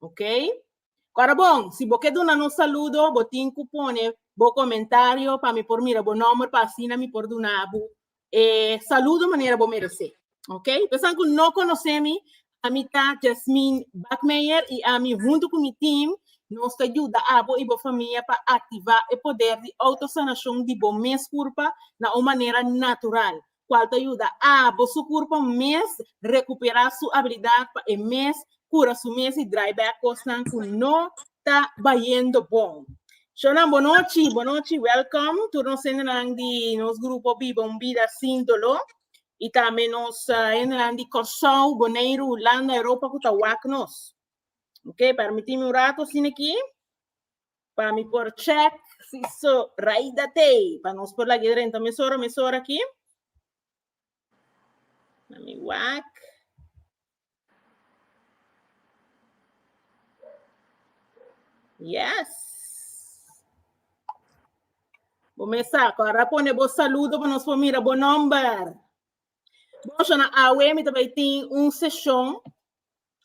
Ok? Kora bon, si bo ke duna nos saludo, bo tin ku pone bo komentario pa mi por mira bo nòmber pa asina mi por duna bo e saludo manera bo merese. Ok? Pesan ku no konosé mi, ami ta Jasmine Bakmeijer i ami huntu ku mi tim nos ta yuda abo i bo famia pa aktivá e poder di outosanashon di bo mes kurpa na un manera natural. cual ta yuda abo su curpo mes recupera su habilidad pa e mes cura su mes y draai bek cosnan cu no ta bayendo bon. Shownan bonochi, bonochi, welcome tur nos hendenan di nos grupo Biba un Bida Sin Dolor y tambe nos uh, hendenan di Curaçao, Boneiru, Hulanda, Europa cu ta wak nos. Ok, permitime un rato asina aquí. Pa mi por check si so right dat ei. Pa nos por lag'e drenta mesora, mesora aki. Na mi wak. Yes. Bo mesa, kora pone bo saludo pa nos por mira bo nomber. Boshana awe mi tabay tin un session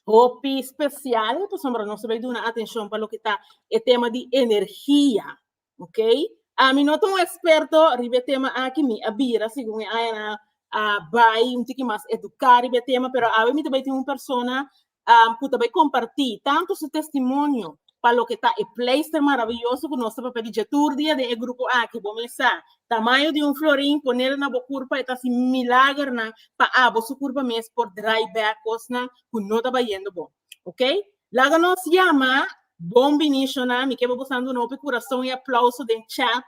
hopi special pasobra nos ta bai duna atencion pa loke ta e tema di energia, ok? Ami no ta un experto riba e tema aki, mi a bira segun e ayana a bai un tiki mas educa riba e tema, pero awe mi ta bai tin un persona cu ta bai comparti tanto su testimonio pa loke ta e pleister maraviyoso cu nos ta papia di dje tur dia den e grupo aki, bo mes sa Tamaño di un florin ponel na bo kurpa e ta hasi milagernan pa abo su kurpa mes por drai bek kosnan ku no ta bayendo bon. Ok, laga nos yama Bon Binicio nan, mi ke bo bosan duna hopi kurason i aplauso den chat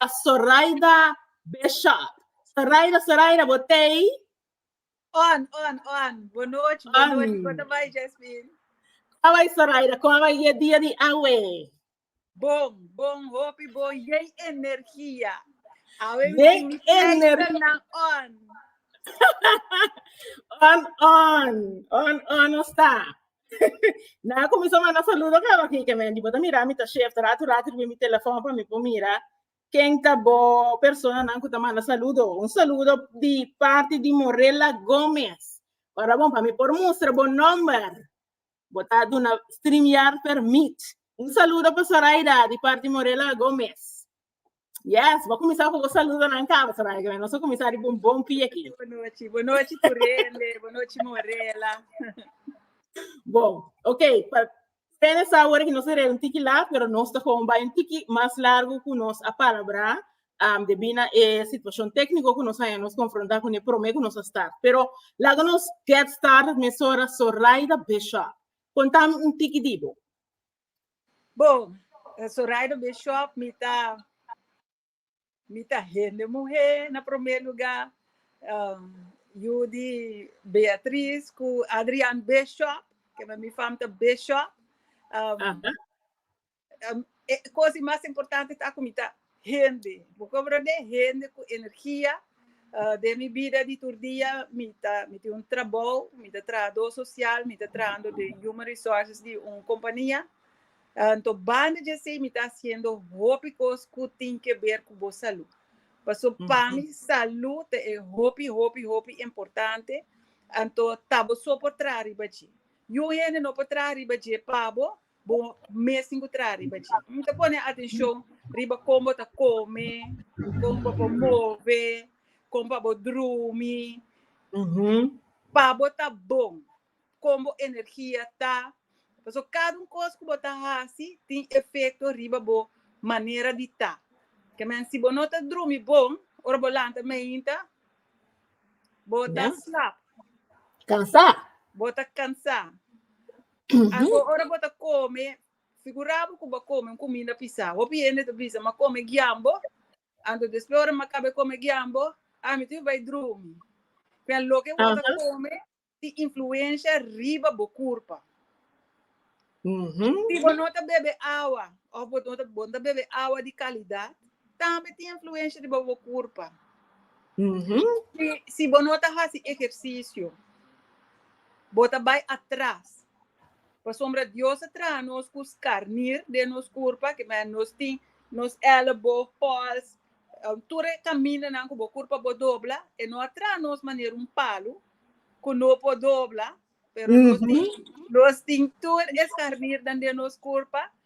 pa Soraida Beshot. Soraida, Soraida, bo ta ei? On, on, on, Bon nochi, bon nochi, On. kua ta bai Jasmine? Kua bai Soraida, kua bai e dia di awe? Bon, bon hopi bon yei energia. Awe Yei mi energia. na on. on on, on on no sta. na comiso manda saludo ka waki ke men dibo ta mira mi ta shift ratu ratu ribi mi telefon pa mi po mira ken ta bo persona nan ku ta manda saludo. Un saludo di parte di Morella Gomez. Ora bon pa mi por mustra bo nomber. Bo ta duna streamyard permit. Un saludo pa Soraida di parti Morela Gomez. Yes, bo cuminsa cu bo saludonan caba Soraida, que nos a cuminsa riba un bon pie aquí. Bo nochi, bo nochi Turende, bo nochi Morela. Bon, ok, pa Turende sa awor que nos a rega un tiki lat, pero nos ta gewoon bai un tiki mas largo cu nos a palabra. um, debi na e situacion técnico cu nos haya nos confronta con e prome cu nos a start. Pero laga nos get started mesora Soraida Bishop. Contami un tiki dibo. Bo, eh, Soraida Bishop, mi ta, mi ta hende mujer na primer lugar. Um, Judy Beatriz cu Adrian Bishop, que mi fam ta Bishop. Um, Aha. E cos di mas importante ta cu mi ta hende. Bo cobra den hende cu energia. Den mi bida di tur dia mi ta, mi tin un trabou, mi ta trahador social, mi ta trahando den Human Resources di un compania. Anto banda di asey mi ta haciendo hopi cos cu tin que ber cu bo salud. Paso pa mi salud ta e hopi, hopi, hopi importante. Anto ta bo so por traha riba dje. Yu hende no por traha riba dje pa bo, bo mes tin ku traha riba dje. Mi ta pone atenshon riba kon bo ta kome, kon bo por move, kon pa bo drumi, pa bo ta bon, kon bo energia ta. Pasobra kada un kos ku bo ta hasi tin efekto riba bo manera di ta. Ke men, si bo no ta drumi bon, ora bo lanta mainta, bo ta slap. Kansá. Bo ta kansá. Anto ora bo ta come, figura bo cu bo a come un cuminda pisa. Hopi hende ta bisa, m'a come giambo, anto despues ora m'a caba e come giambo, ah, mi tin bai drumi. P'e loke bo ta come tin influencia riba bo curpa. Si bo no ta bebe awa of bo no ta, bo no ta bebe awa di calidad, tambe tin influencia riba bo curpa. Si, si bo no ta haci ejercicio, Bo ta bai atras. Pasobra Dios a traha nos cu scarnir den nos curpa, kimen nos tin nos elbo, pols, tur e camindanan cu bo curpa bo dobla, e no a traha nos manera un palu cu no por dobla, pero nos tin tur e scarnirnan den nos curpa,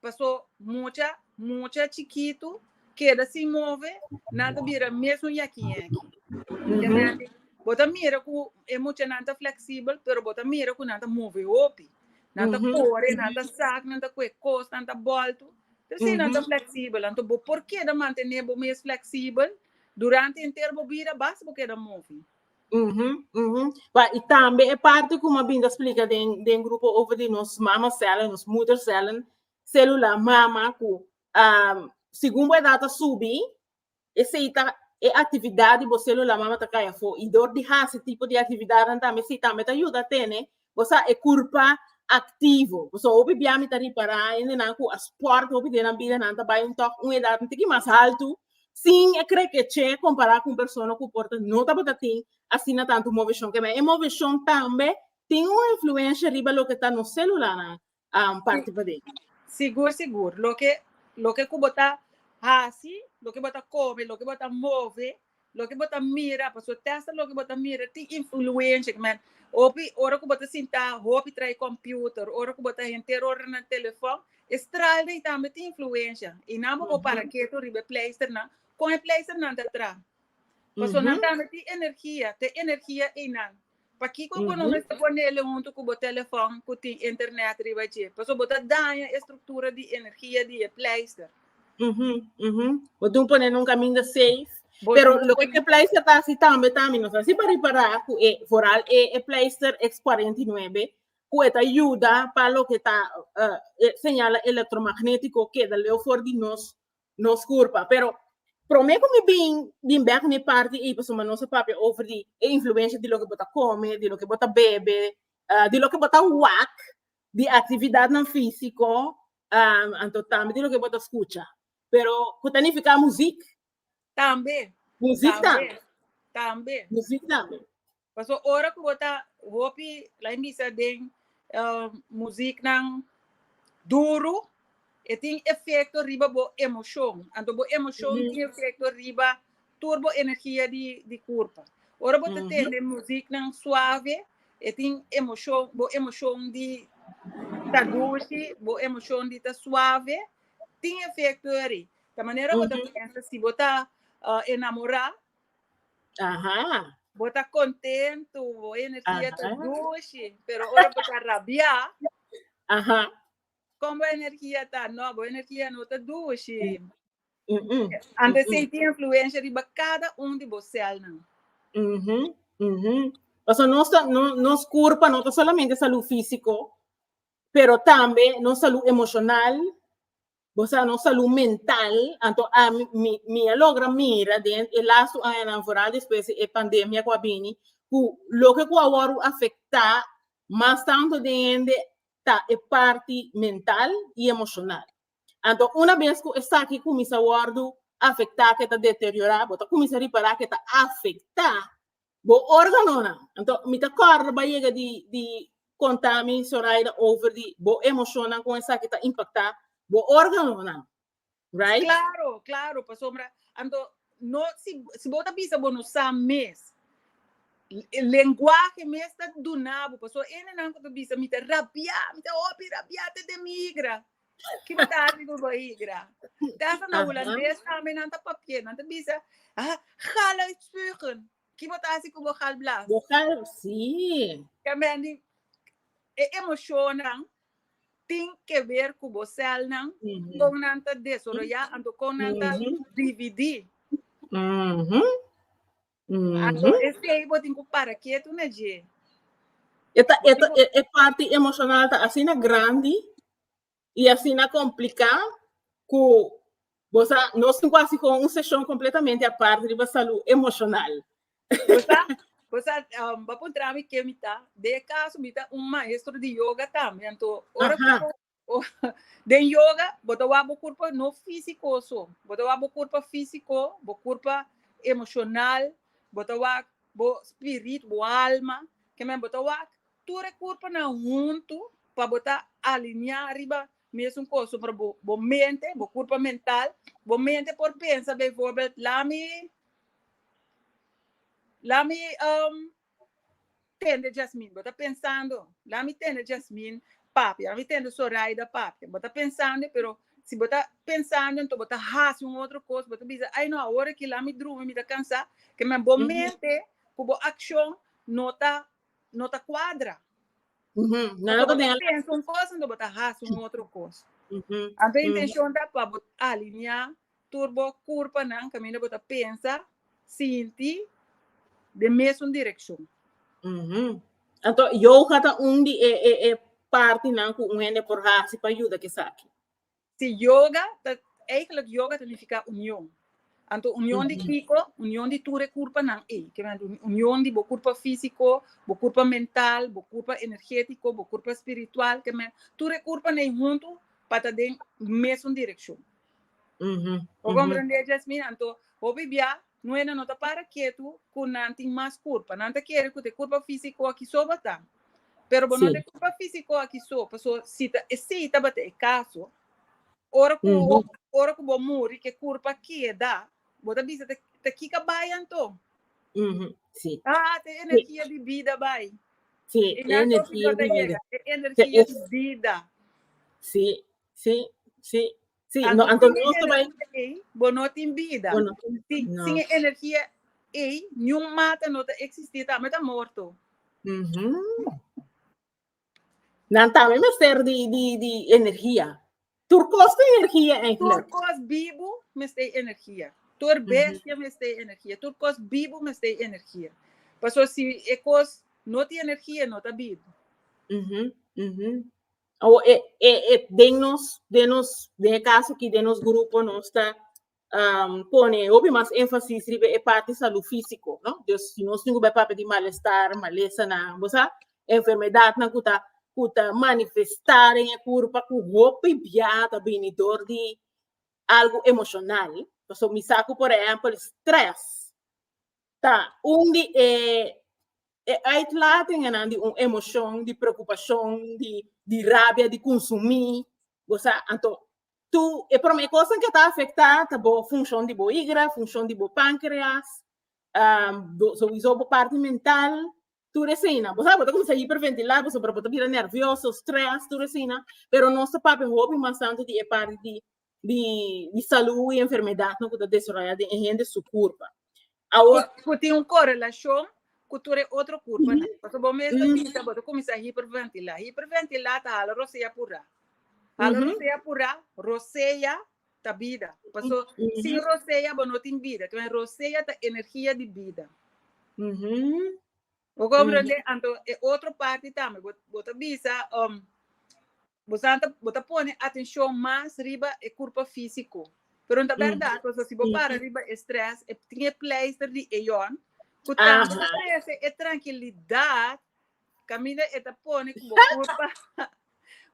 Paso mucha mucha chikitu keda sin move, nan ta bira mesun yèki yèki. Tende? Bo ta mira ku e muchanan ta fleksibel, pero bo ta mira ku nan ta move hopi. Nan ta kore, nan ta sak, nan ta kohe kos, nan ta bòltu. Te si nan ta fleksibel. Anto bo por keda mantené bo mes fleksibel durante henter bo bida basta bo keda move. Uhum, uhum. Wa, i tambe e parte ku ma binda splika den den grupo over di nos mama cellen, nos moeder cellen, celula mama ku um, segun bo edad ta subi, esei ta e actividad di bo celula mama ta kaya fo. I door di hasi tipo di actividad tambe, esei tambe ta yuda tene Bo sa e kurpa aktivo. Bo sa hopi bia mi ta ripará hende nan ku a spòrt hopi den nan bida, nan ta bai un tòg un edat un tiki mas haltu sin e krekeche kompará ku un persona ku por ta no tabata tin asina tantu moveshon. Keme e moveshon tambe tin un influensha riba loke ta nos sélulanan, um parti paden. Sigur sigur, loke loke ku bo ta hasi, loke bo ta kome, loke bo ta move, loke bo ta mira, pasobra te hasta loke bo ta mira tin influensha, man, hopi ora ku bo ta sinta hopi tra'i kompiuter, ora ku bo ta henter ora na telefòn, e stral dei tambe tin influensha, i nan bo por para ketu riba e pleisternan, kon e pleisternan ta tra? Pasobra nan tambe tin energia, ta e energia einan. Pakiko ku no mester pone el huntu ku bo telefòn ku tin internet riba dje? Pasobra bo ta daña e struktura di energia di e pleister. Uhu, uhu. Bo tin pone nun kaminda seif. Bo Pero tin lo ke pone- e pleister ta hasi tambe tambe, nos hasi pa ripará ku e vooral e e pleister X49 ku e ta yuda pa loke ta eh, e señal elektromagnétiko keda leu for di nos Nos curpa, pero prome cu mi bin bin bek mi parti ey pasobra nos a papia over di e influencia di loke bo ta come, di loke bo ta bebe, ah, di loke bo ta wak, di actividadnan fisico, ah, anto tambe di loke bo ta scucha. Pero cu ta nifica muziek. Tambe. Muziek tambe. Tambe. Muziek tambe. Paso ora cu bo ta hopi lai misa den muziek nan duru e tin efecto riba bo emocion, anto bo emocion tin efecto riba tur bo energia di curpa. Ora bo ta tende muziek nan suave e tin emocion, bo emocion di ta dushi, bo emocion di ta suave tin efecto eri ta manera bo ta pensa si bo ta enamora. Aha. Bo ta kontentu, bo energia ta Aha. dushi, pero ora bo ta rabia, Aha. kon bo energia ta? No, bo energia no ta dushi. Mm-mm. Ante Mm-mm. senti influencia riba cada un di bo celnan. Mhm, mhm. Paso nos, ta- no- nos curpa no ta solamente salud físico, pero tambe nos salud emocional, Bo sa nos salú mental, anto a mi, mi a logra mira den e las tu añanan, vooral despues di e pandemia ku a bini, ku loke ku a wòrdu afektá mas tantu den hende ta e parti mental i emoshonal. Anto una bes ku esaki kuminsá wòrdu afektá, ku e ta deteriorá, bo ta kuminsá ripará ku e ta afektá Bo órganonan. Anto, mi ta kòrda bo a yega di, di kontá mi, Soraida, over di bo emoshonnan kon esaki ta impaktá bo órganonan, right? Klaro, klaro, pasobra anto no si, si bo ta bisa bo no sa mes, lenguahe mes ta duna bo, pasobra hende nan ku ta bisa mi ta rabiá, mi ta hopi rabiá te demigra, Ki bo ta hasi ku bo higra? Tasa na Hulandes tambe nan ta papier, nan ta bisa, ah, gal uitspugen. Ki bo ta hasi ku bo gal blas? Bo gal, si. Tambe di, e emoshonnan tin ke ber ku bo sèlnan, kon nan ta desoroyá, anto kon nan ta dividí. Ah, so Ujú. este ei bo tin ku para ketu na dje. E, ta, e, ta- e- e parti emocional ta asina grandi y asina complica cu vos a- nos tin cuasi con un sesión completamente aparte riba salud emocional. Bosa, bosa, um, ba puntra mi ke mi ta. De caso, mi ta un maestro de yoga también. Anto, ora Ajá. ku Den yoga, bo ta wak bo kurpa no físiko so. Bo ta wak bo kurpa físiko, bo kurpa emoshonal, bo ta wak bo spirit, bo alma. Ke men bo ta wak tur e kurpanan huntu pa bo ta alineá riba mesun kos. So por bo mente, bo kurpa mental, bo mente por pensa beivorbèl, lami lami tende Jasmine, bo ta pensando, la mi tende Jasmine papia, la mi tende Soraida papia, bo ta pensando, pero si bo ta pensando, enton bo ta hasi un otro cos, bo ta bisa, ay no, awor aki la mi drumi, mi ta cansa, ke men bo mente ku bo accion no ta, no ta cuadra. Porque bo ta pensa un cos, enton bo ta hasi un otro cos. Anto e intencion ta pa bo alinea Tur bo kurpanan kaminda bo ta pensa, sinti, den mesun direkshon. Uhumm. Anto yoga ta un di e e e partinan ku un hende por hasi pa yuda ku esaki? Si, yoga ta, eigenlik yoga ta nifiká union. Anto union di kiko? Union di tur e kurpanan ei. Ke manera ku union di bo kurpa físiko, bo kurpa mental, bo kurpa energétiko, bo kurpa spiritual, tur e kurpanan ei huntu pa ta den mesun direkshon. Bo komprendé djes mi? Anto, hopi bia nuenan no ta para ketu ku nan tin mas kurpa. Nan ta kere ku ta e kurpa físiko aki so bo ta. Pero bo no ta e kurpa físiko aki so, paso si ta esei tabata e kaso, ora ku ora ku bo muri ke kurpa a keda, bo ta bisa ta ta kika bai anto? A ta e energia di bida bai. E nan so si bo ta yega, e energia di bida. Sí, sí. Sí, no, anto nos to bai. Bo no tin vida. Bo no tin sí, no. Sin e energia ei, niun mata no ta existi, ta meta morto. Mm -hmm. Nan también me ser di, di, di energia. Tur cos de energia eigenlijk. Tur cos vivo me stay energia. Tur bestia mm -hmm. me stay energia. Tur cos vivo me stay energia. Paso si e cos no ti energia, no ta vivo. Mm -hmm. Mm -hmm. o e, e, e den nos den nos den e caso aquí den nos grupo no está um, pone hopi más énfasis riba e parte salud físico, no? Dus si nos tingo papel di malestar, malesa na, bosa, enfermedad na kuta kuta manifestar en e kurpa ku hopi biata bini dor di algo emocional. Paso mi saku por ejemplo stress. ta un di e e uitlatingennan di un emocion di preocupacion di di rabia di consumi bo sa anto tu e prome cosnan ke ta afecta ta bo funcion di bo higra funcion di bo pancreas bo sowiso bo parti mental Tur eseinan. Bo sa, bo ta kuminsá hiperventilá, bo sabor bo ta bira nervioso, stress, tur eseinan. Pero nos ta papia hopi mas tantu di e parti di di di salú i enfermedadnan ku ta desaroyá den e hende su kurpa. Awor. Ku tin un korelashon ku tur e otro kurpanan. Pasobra bo mes ta bisa bo ta kuminsá hiperventilá. Hiperventilá ta hala rosea apurá. Hala rosea apurá, rosea, ta bida. Paso sin rosea bo no tin bida. Kibay rosea ta energia di bida. Bo komprende? Anto e otro parti tambe bo ta bisa um bo sa ta bo ta pone atencion mas riba e kurpa fisico. Pero no ta berdad paso si bo para riba e stress tin e pleister di eon ku tambe ta trese e trankilidad Camila e ta pone ku bo kurpa.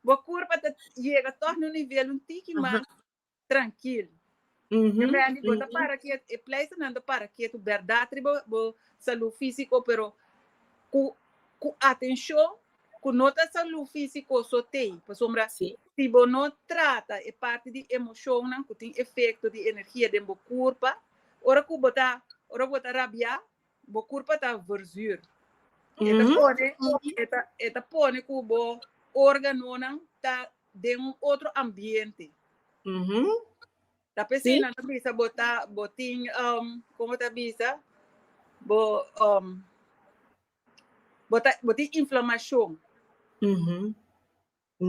bo kurpa ta yega tòg na un nivel un tiki mas trankil. Te rendi bo ta para kietu, e pleisternan ta para kietu bèrdat riba bo salú físiko, pero ku ku atenshon ku no ta salú físiko so t'ei. Pasobra si bo no trata e parti di emoshonnan ku tin efekto di energia den bo kurpa, ora ku bo ta ora ku bo ta rabiá, Bo kurpa ta verzuur. E ta pone, e ta, e ta pone ku bo organonan ta den un otro ambiente. Mhm. Ta p'esei Sí. nan ta bisa bo ta, bo tin, um, como ta bisa? Bo, um, bo ta, bo tin inflamacion. Mhm.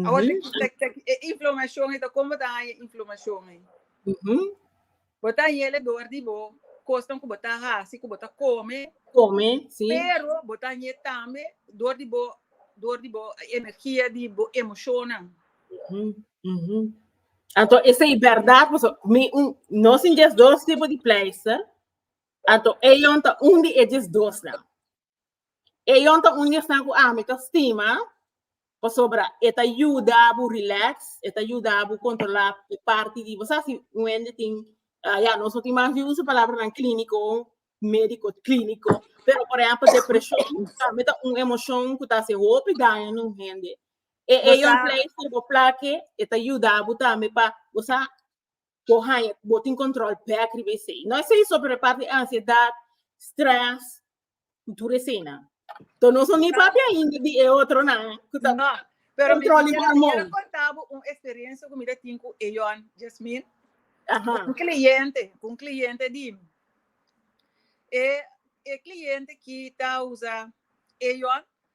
Awor te ki tek tek e inflomashon ei ta kon bo ta haña e inflomashon ei? Bo ta haña ele dor di bo kosnan ku bo ta hasi, ku bo ta kome, pero bo ta haña tambe dor di bo dor di bo energia di bo emoshonnan. Anto esei bèrdat pasobra mi no sin djesdos tipo di pleister, anto eion ta un di e djesdosnan. Eyon ta un esnan ku ami ta stima pasobra e ta yuda bo relax, e ta yuda bo kontrolá e parti di bo. Sa si Wendy tin, ya nos no tin mas di usa palabranan klíniko, médiko klíniko, pero por ehèmpel depreshon tambe ta un emoshon ku ta hasi hopi daño na un hende. E eyon pleister bo plake e ta yuda bo tambe pa bo sa bo haña, bo tin control bek riba esey. No esey so, pero parte di ansiedad, stress, cu tur esey nan. To no son ni papi ainda di e otro nan, cu ta No, pero mi control di bo quiero amon. conta bo un experiencia cu mi ta tin cu Eyon, Jasmin, Aha, un cliente, cu un cliente di mi. E, e cliente ki ta usa Eyon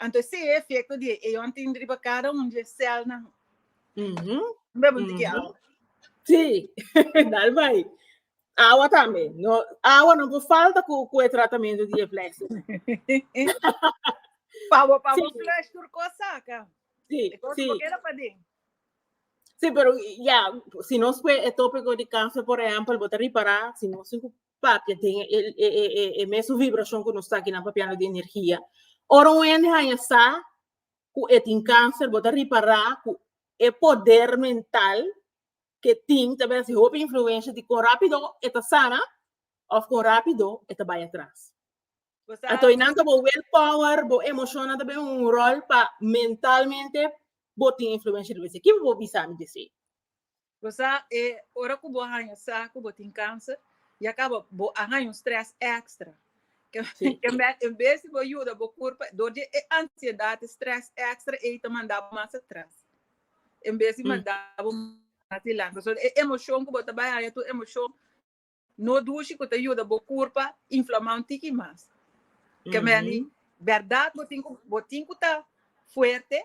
Anto esei e efekto di e eon tin riba kada un di e sèlnan. Bo ta bunti ki awa. Sí, dal bai. Awa tambe. No, awa no por falta ku ku e tratamentu di e flèsh. Pa bo pa bo Sí. flèsh tur kos saka. Sí, E kos sí. bo keda paden. Sí, pero ya, si nos kue e tópiko di kanser, por ehèmpel, bo ta ripará, si nos tin ku papia den e mesun vibrashon ku nos ta kinan papiando di energia. Ora un hende haña sa ku e tin kanser, bo ta ripará ku e poder mental ku e tin ta bira si hopi influensha di kon rápido e ta sana òf kon rápido e ta bai atras. Anto nan ta bo will power, bo emoshonnan ta bira un ròl pa mentalmente bo tin influensha riba esei. Kico bo bisa mi di esei? Bo sa e ora ku bo haña sa ku bo tin kansa i a kaba, bo a haña un strès èkstra. Kenbèt en bes di bo yuda bo kurpa dor di e ansiedat, e strès èkstra ei ta manda bo mas atras en bes di manda bo mas dilanti. So e emoshon ku bo ta bai haña tur emoshon. No dushi cu ta yuda bo curpa inflamá un tiki mas. Kemendi, berdad bo tin cu bo tin cu ta fuerte,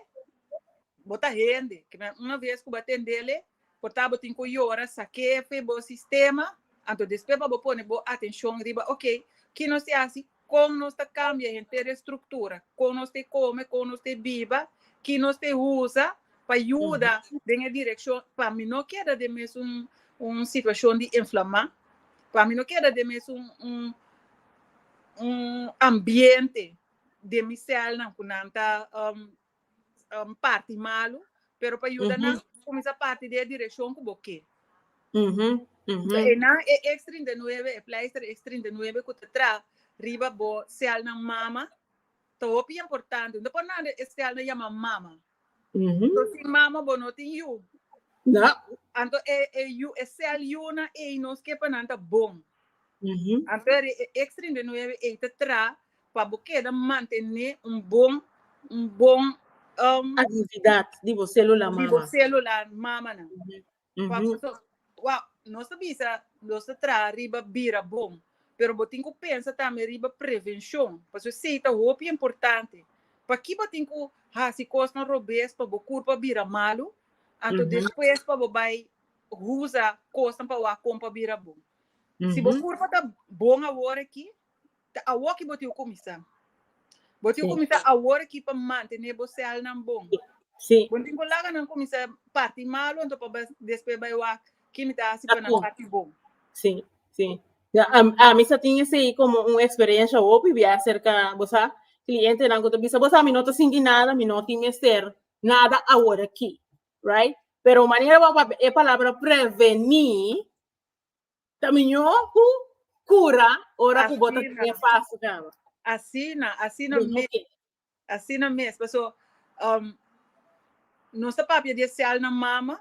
bo ta hende. Kemen, una vez cu bo a tendele, por ta bo tin cu yora, sakefe bo sistema, anto despues pa bo pone bo atencion riba, ok, ki nos te haci? Kon nos ta kambia henter estruktura, kon nos ta e kome, kon nos ta e biba, ki nos ta e usa pa yuda den e direkshon pa mi no keda den mesun un situashon di enflamá, pa mi no keda den mesun un un ambiente den mi sèlnan ku nan ta um, parti malu, pero pa yuda nan kuminsá parti di e direkshon ku bo ke. Ujú, So, ujú. e nan e X 39, e pleister X 39 ku ta tra riba bo sèlnan mama, ta hopi importante. No ta por nada e sèlnan yama mama. Ujú. So, sin mama bo no tin yu. No. Anto e, e yu, e sèl yunan ei nos ke pa nan ta bon. Ujú. Anto e X 39 ei ta tra Pa bo keda mantené un bon un bon Aktividat di bo sélula di bo mama. sélula mamanan. Pa bo ta wou nos ta bisa nos ta traha riba bira bon pero bo tin ku pensa tambe riba prevenshon pasobra esei ta hopi importante. Pa ki bo tin ku hasi kosnan robes pa bo kurpa bira malu anto despues pa bo bai usa kosnan pa wou a kompa bira bon. Si bo kurpa ta bon awor aki ta awor ki bo tin ku kuminsá. Bo tin ku kuminsá awor aki pa mantené bo sèlnan bon. Bo no tin ku laga nan kuminsá parti malu anto pa despues bai wak ke mi ta hasi pa nan parti bon. Ami sa tin esei komo un eksperiensha hopi bia aserka, bo sa, klientenan ku ta bisa, bo sa mi no ta sinti nada, mi no tin mester nada awor aki, right? Pero manera wak e palabra prevení Ta miñó ku kura ora ku bo ta kria fasi kaba. Asina, asina Don mes. Oke. Asina mes. Paso, um, nos ta papia di e cel na mama.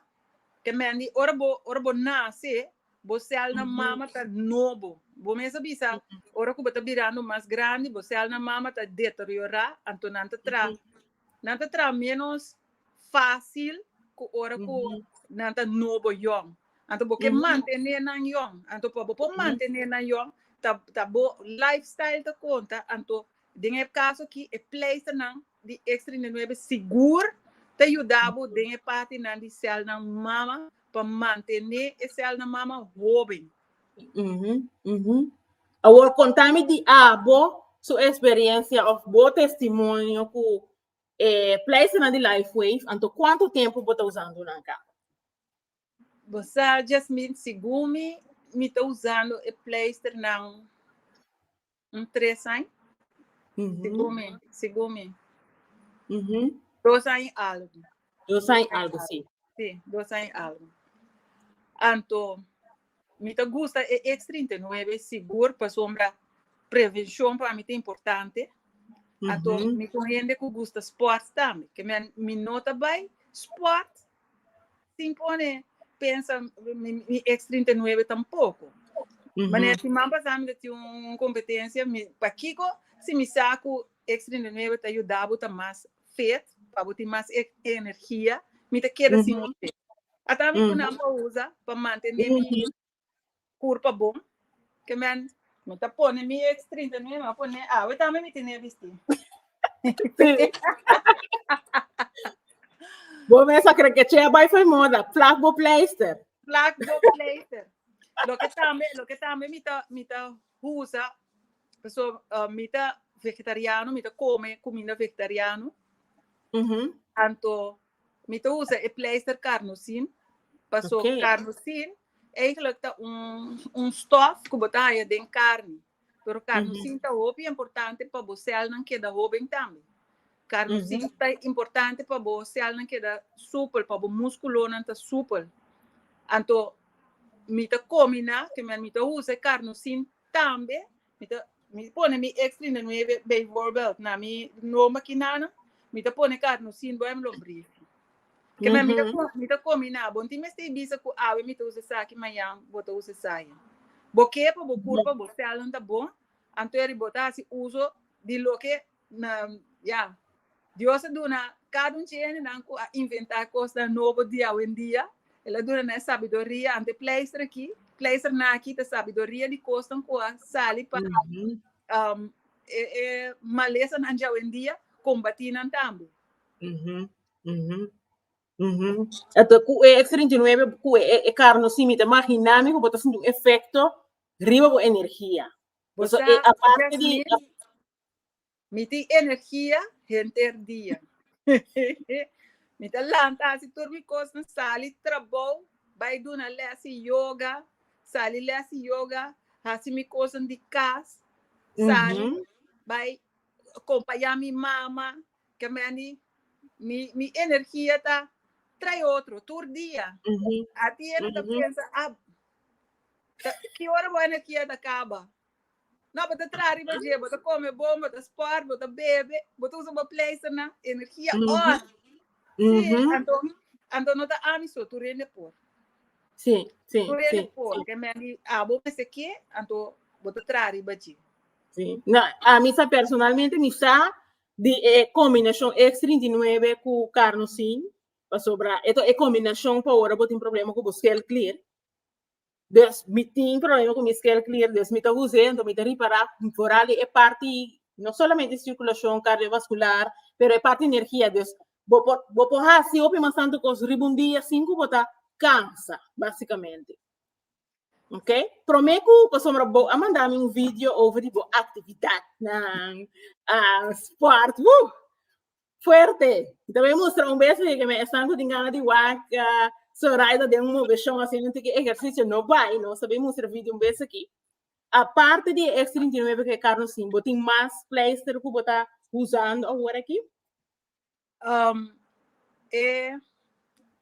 Te men di, ora bo, ora bo nase, bo cel na mama ta nobo. Bo mes a bisa, ora ku bo ta birando mas grandi, bo cel na mama ta deteriorá, anto nan ta traha, nan ta traha ménos fácil cu ora cu nan ta nobo yòn. Anto bo ke mantené nan yòn. Anto pa bo por mantené nan yòn, ta, ta bo lifestyle ta conta. Anto den e caso aki, e pleisternan di X39 sigur ta yuda bo den e partinan di celnan mama pa mantené e celnan mama hoben. Awor, contami di abo su experiencia of bo testimonio cu E pleisternan di LifeWave, anto kuantu tempu bo ta usando nan ka? Bo sa, Jasmine, segun mi, mi ta usando e pleisternan un tres aña, segun mi, segun mi. Dos aña i algu. Dos aña algo, sí. Sí, dos aña algo. Anto, mi ta gusta e X39 sigur pasombra prevencion pa mi ta importante. Anto, mm -hmm. mi con hende cu gusta sport tambe. Que mi, mi no ta bay sport sin pone pensa mi, mi X39 tampoco. Mm -hmm. Maneer, si man pasami dat un competencia, mi, pa Kiko, si mi saco X39 ta ayudabo ta mas fit pa bo tin mas energia mi ta keda sin usted ata mi kunan pa usa pa mantene mi kurpa bon ke men mi ta pone mi ex trinta mi a pone awe tambe mi tene bisti bo mes a kere ke che a bai for moda plak bo pleister plak bo pleister loke tambe loke tambe mi ta mi ta Husa, paso mi ta vegetariano, mi ta come cuminda vegetariano, anto mi ta usa e pleister carnosin, paso okay. carnosin eigenlijk ta un, un stof ku bo ta haya den carne. Pero carnosin mm -hmm. ta hopi importante pa bo celnan keda hoben tambe. Carnosina ta importante pa bo celnan keda supel, pa bo musculonan ta supel. Anto mi ta combina, te men mi ta usa e carnosin tambe, mi ta mi pone mi X trinta nuebe bijvoorbeeld na mi no maquinanan, mi ta pone carnosin bo en lombriz. Ke men mi ta co- mi ta combina, bo tin mester bisa cu awe mi ta usa esaki, mañan bo ta usa esaki. Bo ke pa bo curpa bo celnan ta bon, anto e riba bo ta haci uso di loke na ya Dios a duna cada un dje hendenan cu a inventa cosnan nobo di awendia, el a duna nan e sabiduria, anto e pleister aki, pleister naki ta sabiduria di cosnan cu a sali pa e malesanan di awendia combati nan tambe. Anto cu e X treinta i nuebe, cu e carno simi ta maginami cu bo ta sinti un efecto riba bo energia. Bo sa e aparte di. Mi tin energia henter dia. Mi ta lanta hasi tur mi kosnan, sali trabou, bai duna lès di yoga, sali lès di yoga, hasi mi kosnan di kas, sali bai kompañá mi mama. Kemendi mi mi energia ta trae otro tur dia. Atié no ta pensa, ah, ki ora bo energia ta kaba? No, bo ta traha riba dje, bo ta come bon, bo ta sport, bo ta bebe, bo ta usa bo pleisternan, energia, mm -hmm. or. Sí, mm -hmm. anto, anto no ta ami so, tu rende por. Sí, sí, tu rende sí, por, sí. que men di, ah, bo me se que, anto, bo ta traha riba dje. Sí, no, a mí sa personalmente, mi sa, di eh, combinación X39 cu carnosine, pa sobra, eto e combinación pa ora bo tin problema cu bo cel clear. Des mi tin problema cu mi scale clear, des mi ta use, ento mi ta ripara foral di e parti, no solamente e circulacion cardiovascular, pero e parti energia, des bo por, bo por hasi hopi mas tanto cos riba un dia sin cu bo ta cansa, basicamente. Ok? Prome cu, pasobra bo a manda mi un video over di bo actividadnan, ah, sport, woo! Fuerte! Mi ta bin mustra un bes leke mi esnan ku tin gana di waka, Zoraida den un moveshon haciendo un tiki ehersisio, no bai, nos ta bin mustra vidio un bes aki. Aparte di e X39 ku e karno sin, bo tin mas pleister ku bo ta usando awor aki? E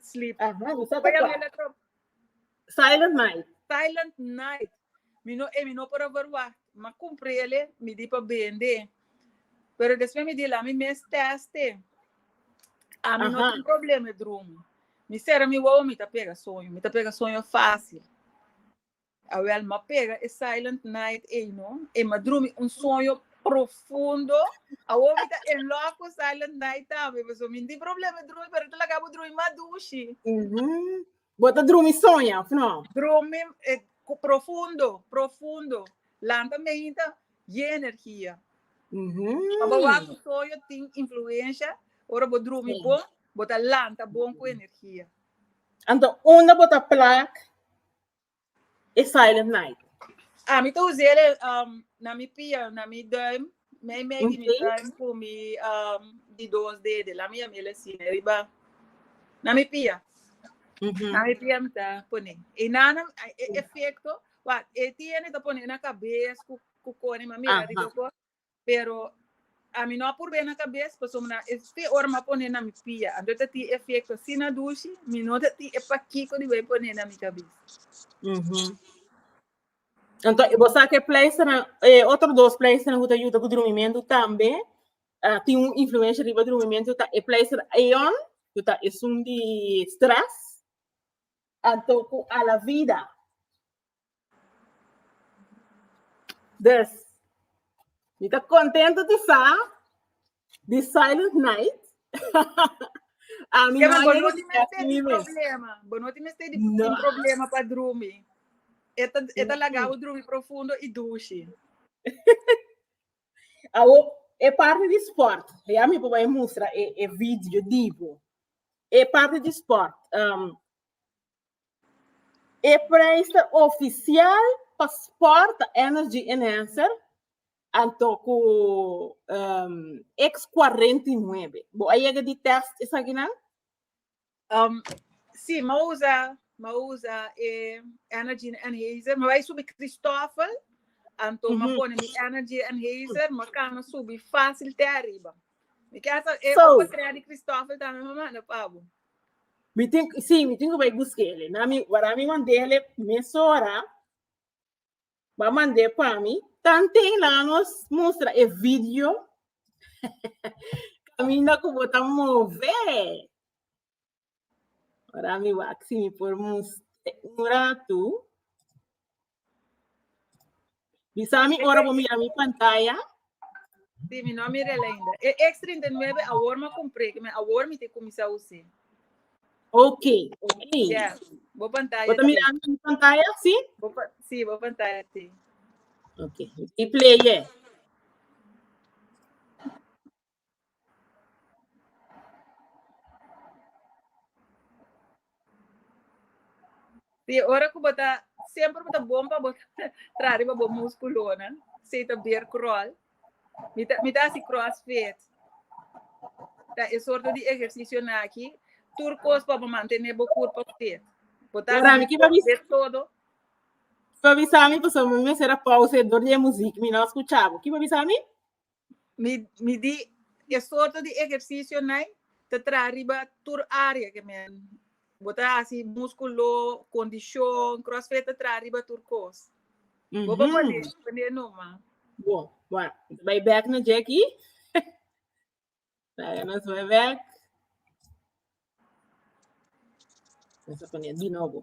Sleep. Ajá, mi sa ta Vaya kua. mela trop. Silent night. Silent night. Mi no e mi no por a verwacht. Ma cumprele, mi di pa bende. Pero después mi di la mi mes teste. A mi no Ajá. tin problema e droom. Mi sera mi wou, mi ta pega soño. Mi ta pega soño fácil. Awel m'a pega e silent night ey no, e m'a drumi un sueño profundo, awor mi ta en love cu silent night tambe, pasobra mi no tin problema di drumi pero e ta laga bo drumi mas dushi. Bo ta drumi soña of no? Drumi profundo, profundo, lanta meinta ye energia. Pa bo wak soño tin influencia, ora bo drumi bon, bo ta lanta bon cu energia. Anto, unda bo ta plak E Silent Night. A mi ta usé el um, na mi pia, na mi duim, mei mei di mi Oké. duim ku mi um, di dos dede. La mi yam el así, na riba, na mi pia. Mhm. Na mi pia mi ta pone. E nana, e- e efecto, wat, e tiene ta pone na cabes ku ku kone, ma mira Aha. riba ko, Pero ami no a purb'é na kabes pasobra es te ora m'a pone na mi pia, anto e ta tin efekto asina dushi, mi no ta tin e pakiko di bai pone na mi kabes. Anto bo sa ku e pleisternan, e otro dos pleisternan ku ta yuda ku drumimentu tambe a tin un influensha riba drumimentu ta e pleister Aeon ku ta esun di stress anto ku Alavida. Des, mi ta contento di sa, di Silent Night. a mi yeah, no bono ti mester di problema. Bono ti mester di no. problema pa drumi. Eta, eta lagao drumi profundo i dushi. Awo, e parte di sport. Ja mi papa e mustra e, e video divo. E parte di sport. Um, E prijs ta ofisial pa sport energy enhancer anto ku X cuarenta y nuebe bo a yega di test esaki nan? Si m'a usa m'a usa e energy enhancer m'a bai subi Christofel anto m'a pone mi energy enhancer m'a kana subi facil te ariba mi kasa e opo trè di Christofel tambe m'a manda pa bo. Mi tin, sí, mi tin que voy a buscar ele. Na mi, wara mi mandé ele mesora, va mandé pa mi, tanten la nos mostra e video, camina que bota move. Wara mi wak, sí, mi por mostra un rato. Bisa mi ora bo mira mi pantaya. Sí, mi no mira ainda. E X39 awor ma compré, que me awor mi te comisá usé. Ok, ok. Yeah, bo pantalla. Bota mira mi pantalla, sí? Bo, sí, bo pantalla, sí. Ok, y play, yeah. Di ora ku bo ta semper bo ta bon pa bo traha riba bo muskulonan, si ta ber kròl. Mi ta mi ta hasi kròsfit. Ta e sorto di ehersisionan aki, tur kos pa bo mantené bo kurpa fit. Bo ta Ora, mi kiba bis- ber todo. Kiba bisa mi pasobra mi mester a pausa dor di e muzik mi no a skucha bo. Kiba bisa mi? Mi di e sorto di ehercicionai ta traha riba tur area ke men bo ta hasi, musculo, condicion, crossfit ta traha riba tur cos. Bo pa pone pone numa. Bo, bueno, nos bai back na Jackie. Traga nos bai back. Nos a pone di nobo.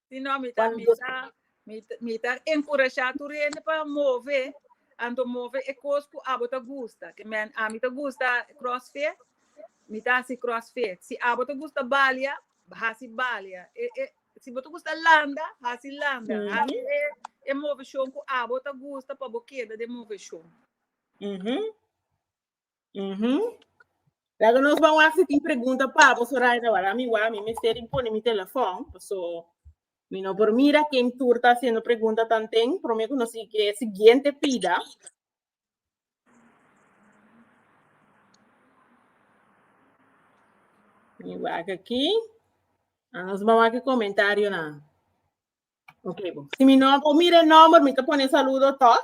Si no, mi ta bisa, mi, mi ta encouraja tur hende pa move, anto move e cos cu abo ta gusta. Te men, a mi ta gusta crossfit, mi ta hasi crossfit. Si abo ta gusta balia, hasi balia. E, e, si bo ta gusta landa, hasi landa. Mm -hmm. Hasi e, e movecion cu abo ta gusta pa bo keda de movecion. Mm -hmm. Uhum. Laga nos ba wak si tin pregunta pa bo Soraya wala mi wa mi mester impone mi telefon so mi no por mira ken tur ta haciendo pregunta tanten pero mi conocí que siguiente pida mi wak aquí a nos ba wak comentario na ok bo si mi no por mira el nombre mi te pone saludo toch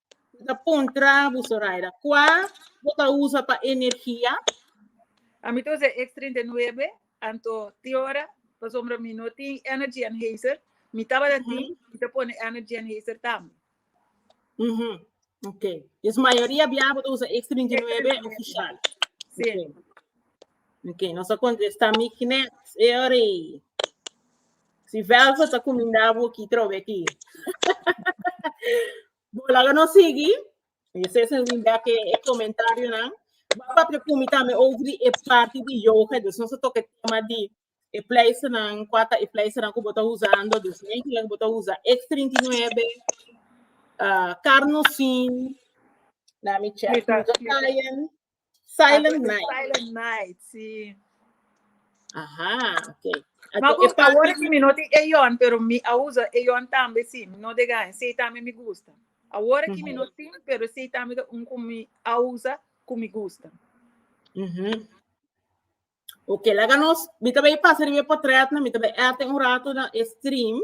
Bo ta kontra bu, Zoraida. Kua bo ta usa pa energia? A mi ta usa e X39, anto tin ora, pasobra mi no tin Energy Enhancer. Mi tabata tin, mi ta pone Energy Enhancer tambe. Ujú, Ok. Yes, mayoria bia bo ta usa X39 X39. ofishal. Sí. Ok. Ok, nos a contesta Mick net. Eorei. Si Velva sa cominda bo ki trobe aquí. Bola que nos sigui. Ese es un back e comentario nan. Baba te kumi tame over e party di yoga. Dus nos a toque tema di e place nan, kwata e place nan kubo ta usando. Dus nen kila kubo ta usa X39, uh, carnosin, na mi check, Mita. Italian. Silent Ato Night. Silent Night, si. Aha, ok. Ato, Ma gusta ahora que mi no te eon, pero mi a usa eon tambe si, mi no de gaen, si tambe mi gusta. Ahora que mi no tin, pero si tambe de un con mi a usa, con mi gusta. Mm -hmm. Ok, laga nos, mi tabe pasa riba portret, mi tabe eten un rato na stream.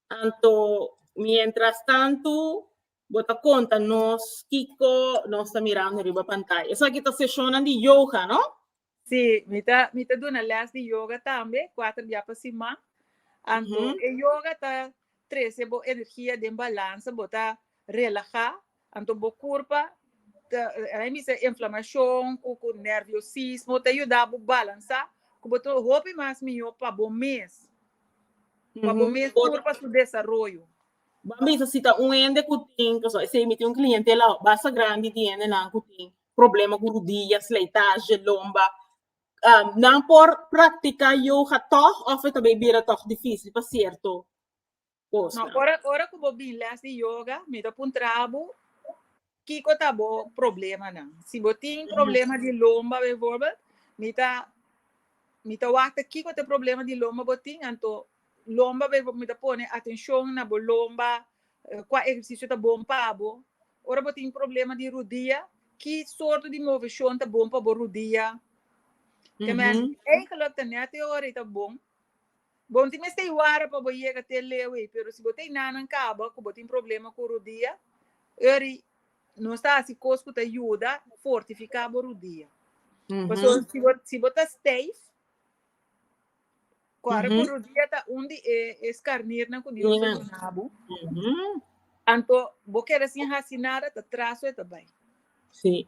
Anto, miéntras tantu, bo ta konta nos kiko nos ta mira awe riba pantaya. Esaki ta seshonnan di yoga, no? Sí, mi ta mi ta duna lès di yoga tambe, kuater bia pa siman. Anto, e yoga ta trese bo energia den balansa, bo ta relahá Anto bo kurpa ta hay mester inflamashon ku ku nerviosismo ta yuda bo balansá ku bo ta hopi mas mihó pa bo mes, pa bo mes tur pa su desaroyo. Ban bisa si ta un hende ku tin, pasobra esei mi tin un klientela basta grandi di hendenan ku tin problema ku rudia, sleitaje, lomba, nan por praktiká yoga tòg òf e ta bai bira tòg difísil pa sierto cosa. No, ora, ora cu bo bin les di yoga, mi ta puntra bo, kiko ta bo problemanan? Si bo tin problema di lomba bijvoorbeeld, mi ta, mi ta wachta kiko te problema di lomba bo tin, anto lomba bijvoorbeeld, mi ta pone atencion na bo lomba, cua ehercicio ta bon pa bo. Ora bo tin problema di rudia, ki sorto di movecion ta bon pa bo rudia? Te mester, eigenlijk ta net te ora y ta bon. Bon tin mester i wara pa bo yega te leu ei, pero si bo ta i nanan caba cu bo tin problema cu rudia, eri nos ta haci cos cu ta yuda fortifica bo rudia. Pasobra si bo si bo ta stijf, cu ara cu rudia ta un di e e scarnirnan cu Dios a duna bo, anto bo keda sin haci nada ta tras so e ta bay. Sí.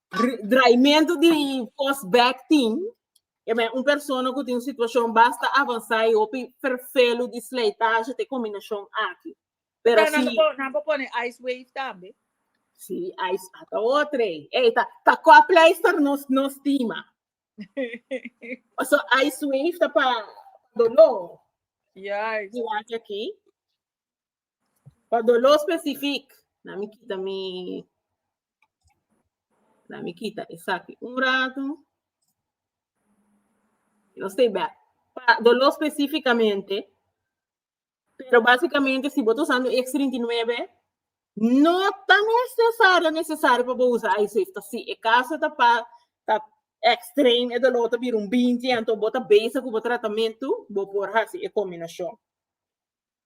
Draimento di force back team. E ben un persona ku tin un situashon basta avansá i hopi ferfelu di slijtaje te kombinashon aki. Pero si. Pero nan por pone ice wave tambe. Si, ice a ta otro ei. Ei, ta, ta kòp pleister nos, nos stima. so, ice wave ta pa dolor. Juist. Di wak aki. Pa doló specific, na mi kita mi, na mi kita esaki un rato. No stay back. Pa doló specificamente, pero basicamente si bo ta usando X39, no ta necesario necesario pa bo usa iSafe. Ta si e caso ta pa ta extreme e doló ta bira un 20 anto bo ta bezig cu bo tratamiento, bo por haci e combinacion.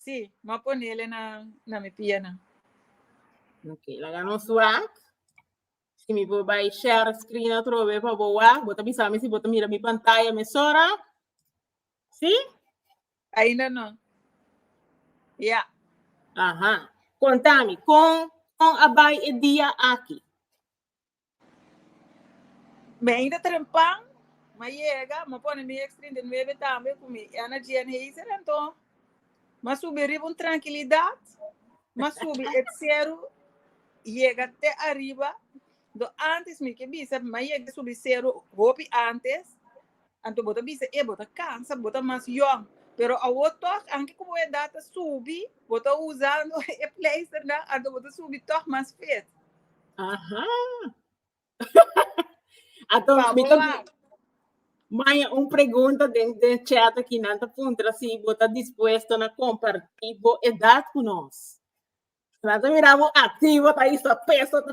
Sí, ma a ponele na, na mi pianan. Ok, laga nos wak. Si mi por bai share screen atrobe pa bo wak, bo ta bisa mi si bo ta mira mi pantaya mesora. Sí? Ainda no. Ya. Aha. Contami, con, con a bai e dia aki? Mi ainda ta den pan, m'a yega, m'a pone mi X trinta i nuebe tambe ku mi Energy Enhancer, anto m'a subi riba un trankilidat, m'a subi e seru yega te ariba, antes mi ke bisa m'a yega subi seru hopi antes. Anto bo ta bisa, e bo ta kansa, bo ta mas yòn. Pero awo tòg, anke ku bo edat ta subi, bo ta usando e pleisternan, anto bo ta subi tòg mas fit. Aha! Anto Sa mi bo ta wak. di- Maya, un pregunta den den chat aki nan ta puntra si bo ta dispuesto na kompartí bo edat ku nos. Nan ta mira bo aktivo ta hasta peso ta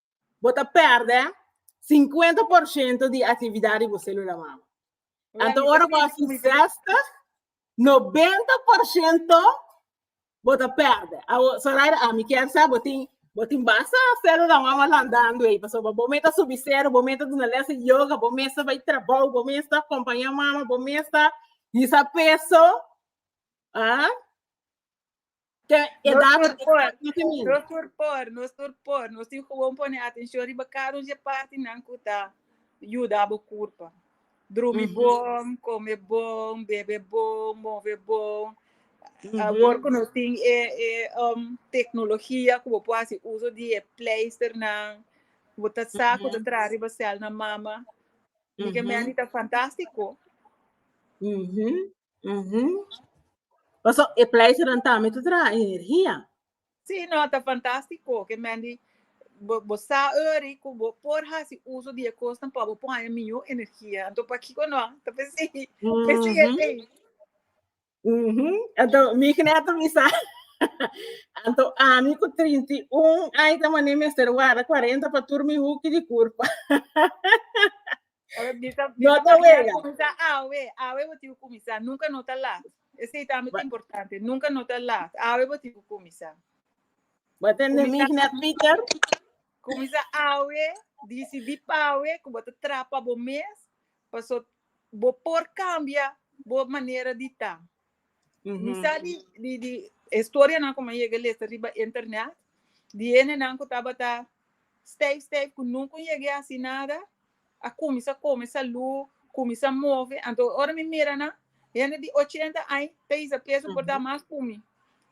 bo ta perde 50% di actividad di bo célula mama. Anto ora bo haci 60, 90% bo ta perde. Awo, so right, a mi kier sa, bo tin, bo tin basa célula mama landando ei, paso bo meta subi cero, bo meta duna les de yoga, bo mesta bai trabao, bo mesta acompaña mama, bo mesta hisa peso, ah, Te edad nos por, nos tur por, nos tur por, nos tin gewoon pone atención riba cada un parti nan kuta yuda bo kurpa. Drumi bon, come bon, bebe bon, move bon. Mm -hmm. Awor ku nos tin e, e um, teknologia ku bo por hasi uso di e pleister nan, bo ta sa mm -hmm. ta tra riba sel na mama. Mm -hmm. Mike me anita fantástico. Mm -hmm. Uhum. Paso e pleasure dan tambe te traha energia. Sí, no, ta fantástico. Que Mandy, bo, bo sa ori cu bo por haci uso di e cosnan pa bo pone miyo energia. Anto pa kiko no, ta pesi, pesi e Uhum. ley. Uhum. Anto, mi kneto mi sa. Anto, ami cu 31 ay ta mané mester wara 40 pa tur mi huki di curpa. No ta wega. Kuminsá awe. Awe bo tin ku kuminsá. Nunka no ta lat. Esei ta bai importante. Nunka no ta lat. Awe bo tin ku kuminsá. Bo ta entendí mi na Twitter? Kuminsá awe. Disidí p'awe ku bo ta traha pa bo mes. Pasobra bo por kambia bo manera di ta. Mi sa di, di, di historia nan como llegué les arriba internet, di ene nan ku tabata stijf, stijf, ku nunca llegué así nada, a kuminsa kome salú, kuminsa move. Anto ora mi mira nan, hende di ochenta aña ta hisa preso por ta mas ku mi.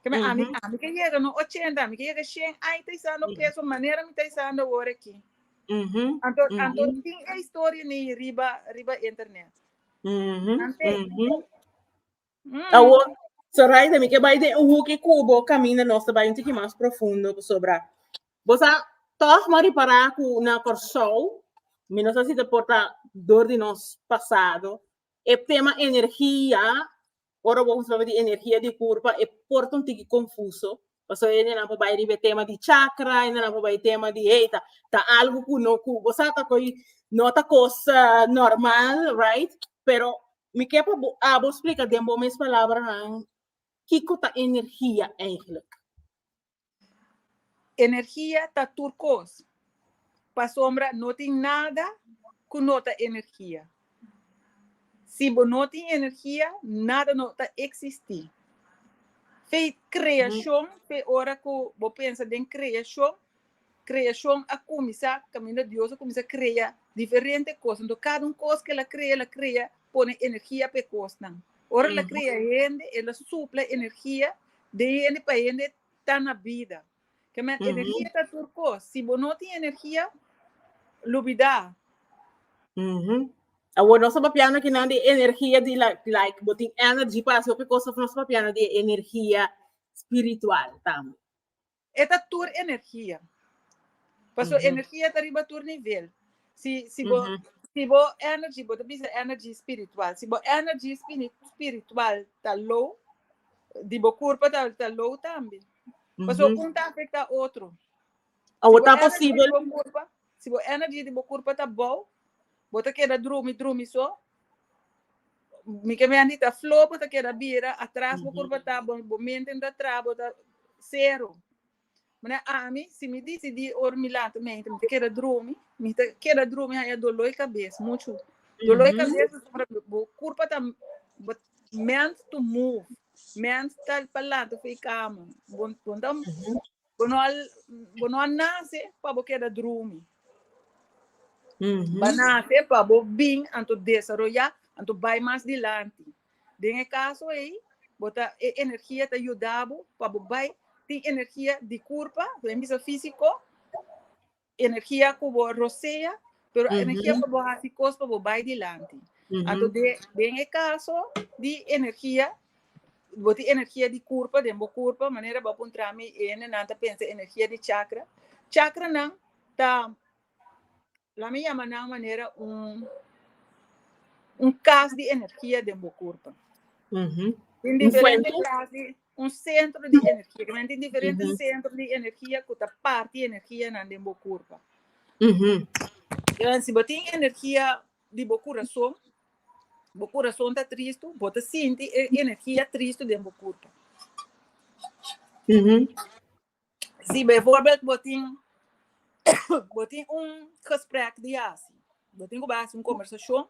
Keme ami, ami ke yega no ochenta, ami ke yega shen aña ta hisando preso manera mi ta hisando awor aki. Anto, anto tin e historia ni riba, riba internet. Mhm, Ante, mhm. Mm. Awo, Zoraida, mi ke bai den un hoekje kubo, kamina nos te bai un tiki mas profundo, pasobra. Bosa, toch ma ripara ku na Kòrsou, mi no sa si te porta dor di nos pasado, e tema energia, Ora bo usaba di energia di kur pa e por ta un tiki konfuso, paso e nenan por bai riba e tema di chakra, e nenan por bai tema di hey ta ta algu ku no ku bo sa ta koi no ta kos ah, normal right, pero mi ke pa bo abo splika den bo mes palabranan kiko ta energia eigenlijk. Energia ta tur kos, pasobra no tin nada ku no ta energia. Si bo no tin energia, nada no ta eksistí. Fe kreashon, fe ora ku bo pensa den kreashon, kreashon a kuminsá kaminda Dios a kuminsá krea diferente kos. Anto kada un kos ku el a krea, el a krea pone energia pa e kosnan. Ora el a krea hende, el a supla energia den hende pa hende ta na bida. Kèmen, energia ta tur kos. Si bo no tin energia, lubidá. Awor nos ta papia nakinan di energia di like bo tin energy pa hasi hopi kos of nos ta papia di e energia spiritual tambe? E ta tur energia. Paso energia ta riba tur nivel. Si si bo si bo energy bo ta bisa energy spiritual. Si bo energy spiritual ta low, di bo kurpa ta ta low tambe. Paso un ta afekta otro. Si bo energy di bo kurpa. Si bo energy di bo kurpa ta bou, bo ta keda drumi drumi so. Mi ke miandi ta flow, bo ta keda bira atras, bo kurpa ta, bo, bo mente no ta tra, bo ta sero. Manera ami, si mi disidí ora mi lanta mente mi ta keda drumi, mi ta keda drumi haña doló i kabes muchu. Doló i kabes pasobra bo kurpa ta bo meant to move, meant ta pa lanta for e kama. Bo, bo no ta Bo no a, bo no a nase pa bo keda drumi. Bo nase pa bo bin anto desaroyá, anto bai mas dilanti. Den e kaso ei, bo ta, e energia ta yuda bo pa bo bai tin energia di kurpa, ta den bisa físiko, Energia ku bo rosea, pero a energia pa bo hasi kos pa bo bai dilanti. Anto den e kaso di energia, bo tin energia di kurpa den bo kurpa, manera bo a puntra mi, e hendenan ta pensa energia di chakra. Chakranan ta, la mi yama nan manera un un kas di energia den bo kurpa. Tin diferente klas di. Un sentro di energia, que men tin diferente uh -huh. centro di energia que ta parte energia nan den bo curpa. Uh -huh. Então, se botin energia de bo coração, bo coração tá triste, bota sente energia triste dentro do corpo. Uhum. Si bijvoorbeeld bo tin bo tin un gesprek di hasi, bo tin ku bai hasi un kombersashon,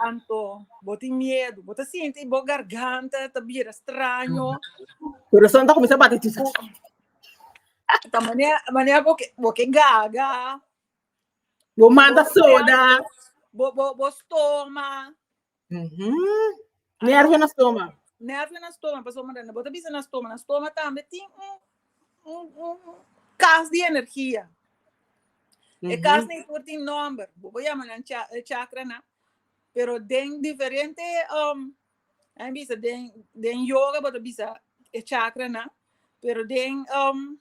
anto bo tin miedu, bo ta sinti bo garganta ta bira straño, Kurason ta kuminsá bati tu. ta manera manera bo ke bo ke gaga, Bo manda soda. bo bo bo stoma, Nervio na stoma. Nervio na stoma, paso manda na bota bisa na stoma. Na stoma tambe tin un, un, un kas di energia. Mm -hmm. E kas ni tur tin nomber. Bobo yama nan cha, eh, chakra na. Pero den diferente, um, ay bisa, den, den yoga bota bisa e chakra na. Pero den, um,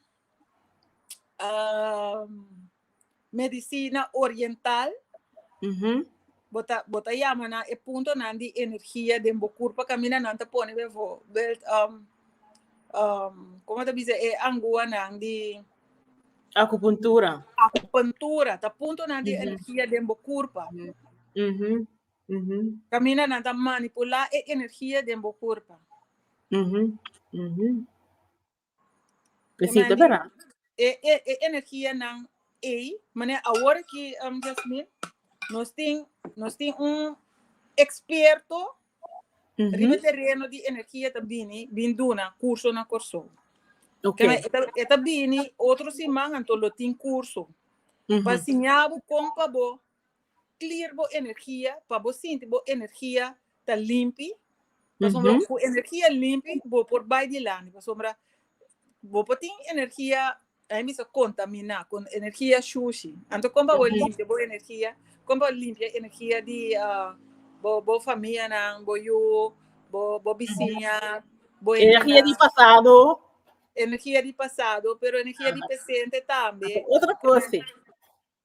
um, medicina oriental. Mm -hmm. Bota, bota llama na e punto nan di energia den bo curpa camina nan te pone bevo. Belt, um, um, como te dice, e angua nan di... Acupuntura. Acupuntura, ta punto nan di mm -hmm. energia den bo curpa. Mm -hmm. Mm -hmm. Camina nan ta manipula e energia den bo curpa. Mm -hmm. Mm -hmm. e e energia nan ey mane awor aki Yasmin nos tin nos tin un experto riba tereno di energia ta bini bin duna curso na Corsou kiba e ta bini otro siman anto lo tin curso pa siñabo con pa bo clear bo energia pa bo sinti bo energia ta limpi pasobra cu energia limpi bo por bay dilanti pasobra bo por tin energia ahí mester contamina con energia shushi anto con pa bo limpia bo energia con pa bo limpia energia di bo famianan bo yu bo bisiña bo energia di pasado energia di pasado pero energia di presente tambe otro cos si.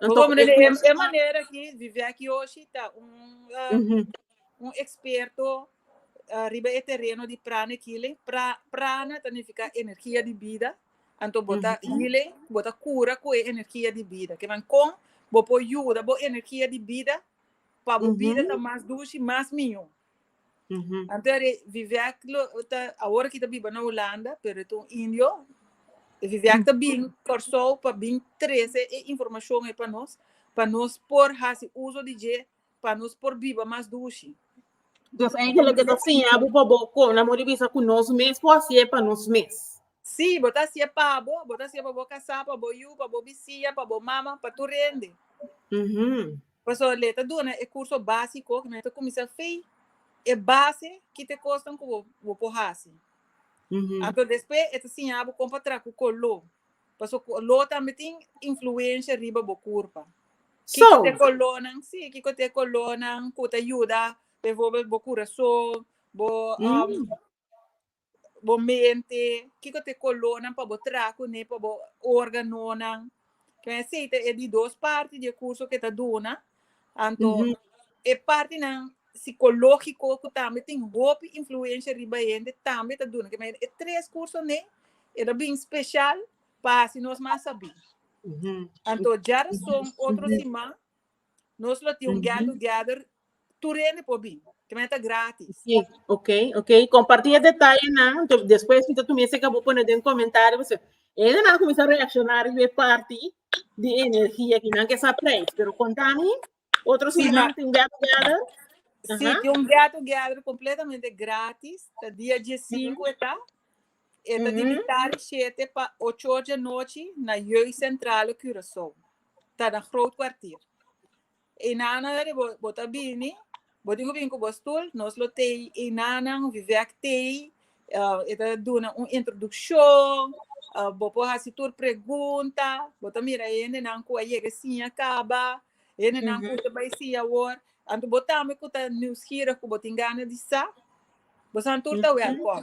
e manera ki Viviaki Oshi ta un un eksperto riba e tereno di prana e kile, pra prana ta nifiká energia di bida, anto bo ta hile, bo ta kura ku e energia di bida. Kinan kon bo por yuda bo energia di bida pa bo bida ta mas dushi, mas mihó? Uhum. Anto era Vivek lo ta ahora kita biba na Holanda, pero eto un indio. E Vivek ta bin Corsou pa bin trece e informacion e pa nos, pa nos por hasi uso di je, pa nos por biba mas dushi. Dus eigenlijk het siña bu pa bo kon amo di bisa ku nos mes por hasi e pa nos mes. Si, bo ta hasi e pa bo, bo ta hasi e pa bo kasá, pa bo yu, pa bo bisiña, pa bo mama, pa tur rende. Uhum. Pasobra lei ta duna e kurso básiko ku nan ta kuminsá fei e base ki ta e kosnan ku bo por hasi. Anto despues e ta siña bo kon pa traha ku koló, pasobra koló tambe tin influensha riba bo kurpa. Kiko ta e kolónan? Sí, kiko ta e kolónan ku ta yuda, befórbel bo kurason, bo. bo mente, kiko ta e kolónan pa bo traha kuné, pa bo órganonan. Ken esei ta e di dos parti di e kurso ku e ta duna. Anto e partinan sikológiko ku tambe tin hopi influensha riba e hende tambe ta duna. Kema e tres kursonan ei e ta bin speshal pa hasi nos mas sabí. Anto djarason otro siman nos lo tin un get together Tur hende por bin. Te manda ta gratis. Sí, ok, ok. Compartí e detallenan. Te- Después mi ta tu mesa que vos poner den comentario. Pues, ellos nan comienza a reaccionar y ver parte de energía que nan que sa prijs. Pero contami, otros Sí, sí, ma- nan tin get together. Sí, Ajá. tiene un get together completamente gratis. Está día 15 está. Está de Ujú. mitad de 7 para 8 horas de noche na Jeugd Centrale Curaçao. Está na Groot Kwartier. E nana ora bo bo ta bini bo tin ku bini ku bo stul nos lo tei e nanan vivek tei e ta duna un introdukshon bo por hasi tur pregunta bo ta mira e hendenan ku a yega e siña kaba e hendenan ku ta bai siña awor anto bo tambe ku ta niuskirig ku bo tin gana di sa bo san tur ta wèlkòm.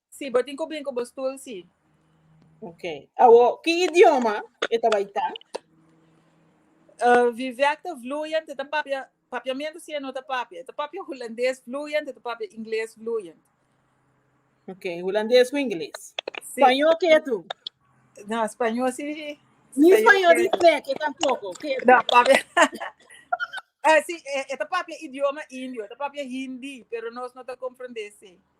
Si, bo tin ku bin ku bo stul, si. Ok. Awo, ki idioma e ta bai ta? Uh, Vivek ta vloeiend, e ta papia papiamento si e no ta papia. E ta papia Hulandes vloeiend, e ta papia Ingles vloeiend. Ok, Hulandes ku Ingles. Si. Spañol ke tu? No, Spañol si. Ni Spañol di Vivek ke tampoko. Ke tu? No, papia. Ah, si, e, e ta papia idioma indio, e ta papia Hindi, pero nos no ta comprende si.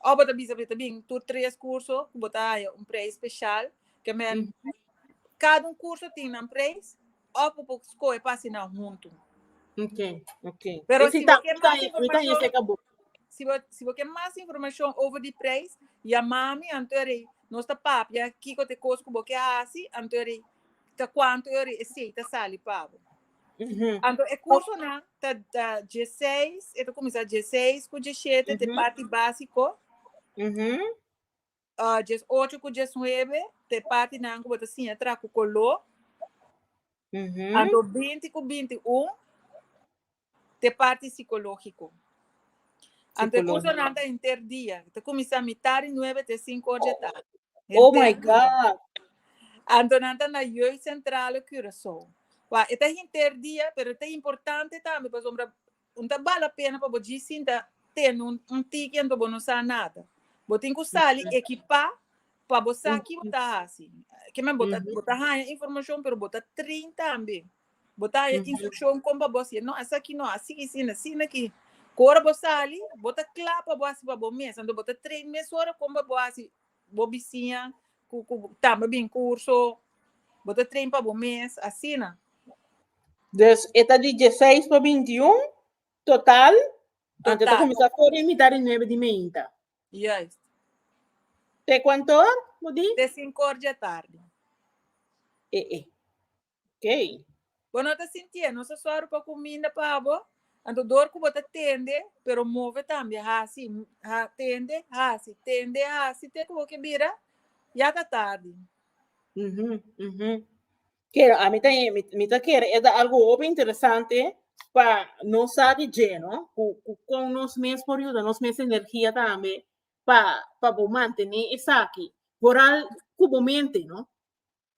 Of bo ta bisa pasobra ta bin tur tres curso cu bo ta haya un prijs special, ke men cada un curso tin nan prijs of bo por scoge pa haci nan hunto. Okay, okay. Pero si bo ke mas informacion, si bo si bo ke mas informacion over di prijs yama mi antori nos ta papia kico ta e cos cu bo ke haci antori ta cuanto e ori e cei ta sali pa bo. Anto e cursonan ta da dieseis, e ta cuminsa dieseis cu diesiete te Mhm. parti básico, Mhm. ah, diesocho cu diesnuebe te parti nan cu bo ta siña tra cu color, Mhm. anto binti cu binti un te parti psicológico. Ante curso nan ta enter dia. Ta cuminsa mitar di nuebe te cinco or di a tarde. Oh my God! Anto nan ta na Jeugd Centrale Curaçao. Wa, e ta hinter dia, pero e ta importante tambe pasobra un ta bal a pena pa bo dji sinta tene un, un tiki anto bo no sa nada. Bo tin cu sali ekipa pa bo sa ki bo ta hasi. Ke men bo ta, bo ta haña informacion pero bo ta train tambe. Bo ta haya instruccion con pa bo siña, no, asaki no, así y asina, asina aki. Cu ora bo sali, bo ta cla pa bo haci pa bo mes. Anto bo ta train mesora con pa bo haci bo bisiña cu tamba bin curso, bo ta train pa bo mes, asina. Dus e ta di dieseis pa binti un total, anto e ta cuminsa for di mita di nuebe di meinta. Juist. Te cuanto or bo di? Te sinku or di atardi. E e. Okay. Bo no ta sintié nos a sòru pa kuminda pa bo? Anto dor ku bo ta tende, pero move tambe, hasi, ha, tende, hasi, tende, hasi, te ku bo ke bira ya ta tardi. Mhm, mhm. Kero, ami ta, mi, mi ta kere e ta algo hopi interesante pa nos sa di dje, no? Ku, ku kon nos mes por yuda nos mes energia tambe pa, pa bo mantené esaki. Boral ku bo mente, no?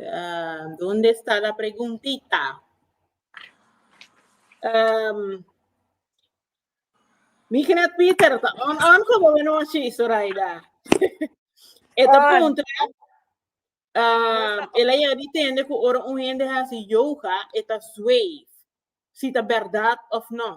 Ah, donde está la preguntita? Um, mi knet Peter, ta on on ko bo no shi, Soraida. Eta On. punto, um, ela ya di tende ku ora un hende hasi yoga, eta zwei, si ta berdad of no.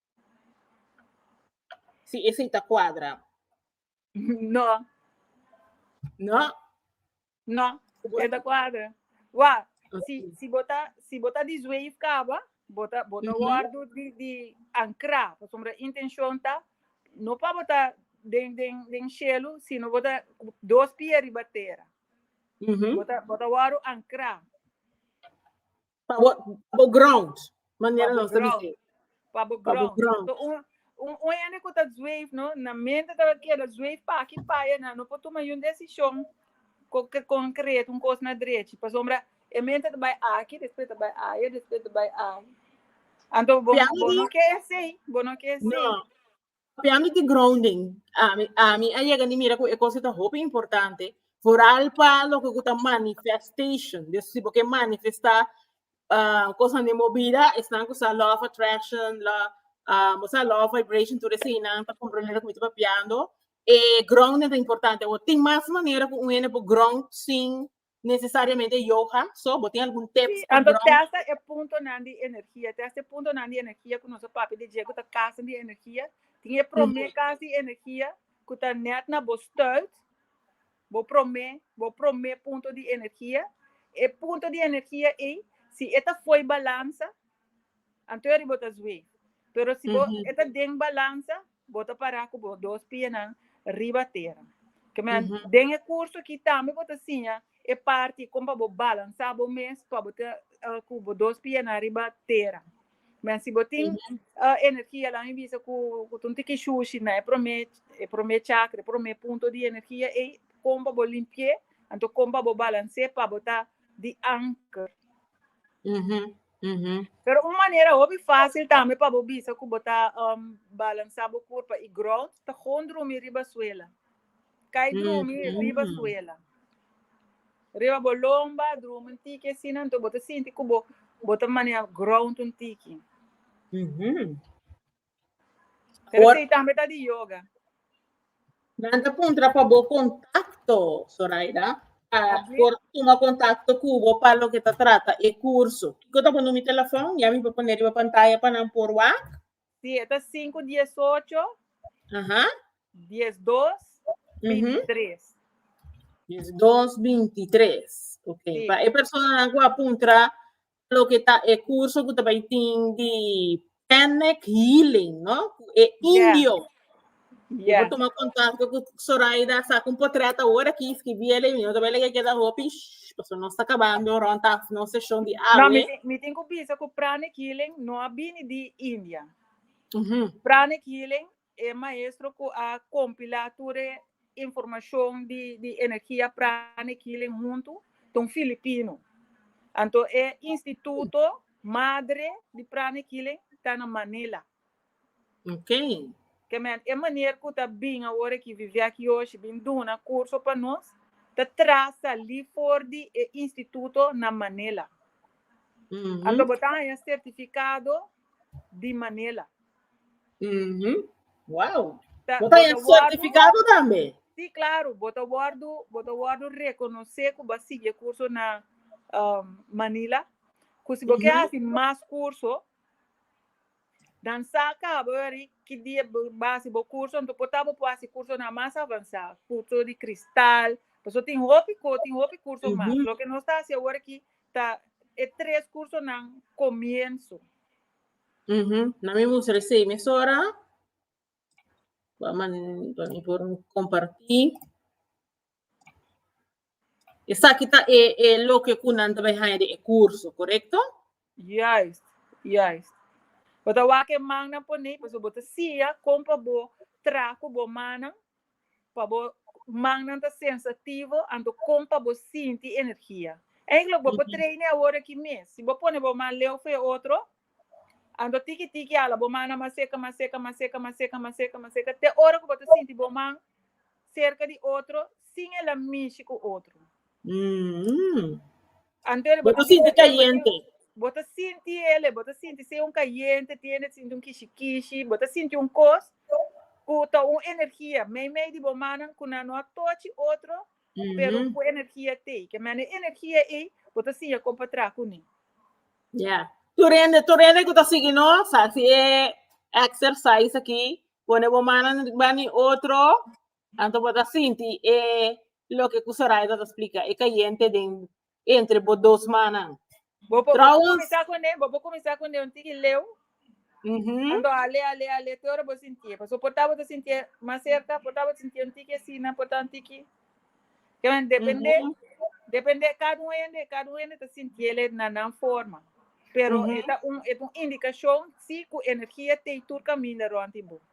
Si esei ta kuadra. No. No? No, e ta kuadra. Wa, si, si bo ta, si bo ta disweef kaba, bo ta, bo ta wordu di, di ankrá, pasobra intenshon ta no pa bo ta den, den, den shelu, sino bo ta dos pia riba tera. Bo ta, bo ta wordu ankrá. Pa bo, pa bo ground, manera nos ta bisti. Pa bo ground. So, un, un, un hende ku ta zweef, no, na mente tabata keda zweef pa aki pa e na, no por tuma yun desishon ku ke konkret, un kos na drechi. Pasobra e mente ta bai aki, despues ta bai aya, despues ta bai aya. Anto bo, bo no ke esei, bo no ke esei. No. Papia mi di grounding. Ami, ami a llega ni mira cu e cosa ta hopi importante, vooral pa loke cu ta manifestation. Dus si bo ke manifesta uh, cosa ni movida, esnan cu sa law of attraction, la, uh, mo sa law of vibration, tur eseinan ta comprender cu mi ta papiando. E grounding ta importante. Wo tin mas manera cu un hende por ground sin Necesariamente yoga, so bo tin algun tips? Si, anto testa e puntonan di energia, testa e puntonan di energia ku nos a papia di dje ku ta kasanan di energia, tin e prome kas di energia ku ta nèt na bo stùit, bo prome bo prome punto di energia, e punto di energia ei si e ta foi balansa anto e riba ta zwei, pero si bo e ta den balansa Bo ta pará ku bo dos pianan riba tera. Den e kurso akí tambe bo ta siña e parti kon pa bo balansá bo mes pa bo ta ku bo dos pianan riba tera. Kòmèn si bo tin energia, laga mi bisa ku ta un tiki shushi na e promé, e promé chakra, e promé punto di energia ei, kon pa bo limpi'é, anto kon pa bo balans'é pa bo ta di anker. Uhuh. Pero un manera hopi fácil tambe pa bo bisa ku bo ta um, balansá bo kurpa i grond ta gon drumi riba suela. Kai drumi Mm. riba Mm. suela. Riba bo lomba, drumi un tiki asina, anto bo ta sinti ku bo, bo ta maneha grond un tiki. Uhuh. Pero Or- sei tambe ta di yoga. Nan ta puntra pa bo contacto, Zoraida. Pa Así. por tuma contacto cubo pa lo que ta trata e curso. Kiko ta bo numi telefon? Ya mi pa poner riba pantaya pa nan por wak. Sí, e ta 518 Aha. 12 Ujú. 23. Yes, 223. Ok. Sí. Pa e persona nan ku a puntra loke ta e kurso ku ta bai tin di panic healing no ku e indio Yeah. Por tomar contacto con Zoraida, saca un portreto ahora aquí, escribirle, mi no te voy a leer que da hopi, pues no está acabando, rond af, no sesión de No, mi, awe. tin- mi tin ku bisa ku pranic healing no a bini di India. Mhm. Pranic healing E maestro cu a compila tur e informacion di di energia pranic healing huntu ta un Filipino. Anto e instituto madre di pranic healing ta na Manila. Okay. Ke men e manier cu ta bin awor aki vivi aki yoshi bin duna curso pa nos ta tra sali for di e instituto na Manila. Anto bo ta haña certificado di Manila. Mm-hmm. Wow. Ta, Bota bota wordu- certificado también. Sí, claro, bota wordo, bota wordo reconoce que va sigue curso na um, Manila. Que si porque Ujú. hace más curso, dan saca bori que die base bo curso, então potabo po hace curso na más avançado, curso de cristal, paso tin hopi co, tin hopi curso Ujú. más. Lo que no está hace ahora que ta e tres curso nan comienzo. Ujú, Na mi moest resei mesora. Ba man ba mi por comparti. Esaki ta e e loke ku nan ta bai haña di e kurso, korekto? Juist, juist. Bo ta wak e mannan ponei, pasobra bo ta siña kon pa bo traha ku bo mannan pa bo mannan ta sensativo, anto kon pa bo sinti energia? Eindelijk bo por traine awor aki mes. Si bo pone bo man leu for e otro, anto tiki tiki ala bo mannan mas seka, mas seka, mas seka, mas seka, mas seka, mas seka, te ora ku bo ta sinti bo man serka di otro sin el a mishi ku otro. Anto bo ta sinti kayente. Bo ta sinti el, bo ta sinti si e un kayente, tiene ta sinti un kishi kishi, bo ta sinti un kos ku ta un energia. Meimei di bo mannan ku nan no a tochi otro, pero ku energia t'ei. Ke mene e energia ei bo ta siña kon pa traha kuné. Ya. Tur hende, tur hende ku ta sigui nos, hasi e exercise aki, pone bo mannan riba di otro, Anto bo ta sinti e loke ku Soraida ta splika, e kayente den entre bo dos manan. Bo por Trouwens- kuminsá kuné, bo por kuminsá kuné un tiki leu, Mhm. anto a lea, lea, lea, te ora bo sintié. Paso por ta bo ta sintié mas serka, por ta bo ta sintié un tiki asina, por ta un tiki. Keme, dependé, Mhm. dependé kada un hende, kada un hende ta sintiéle na nan forma. Pero Mhm. e ta un, e ta un indikashon si ku energia t'ei tur kaminda rònt di bo.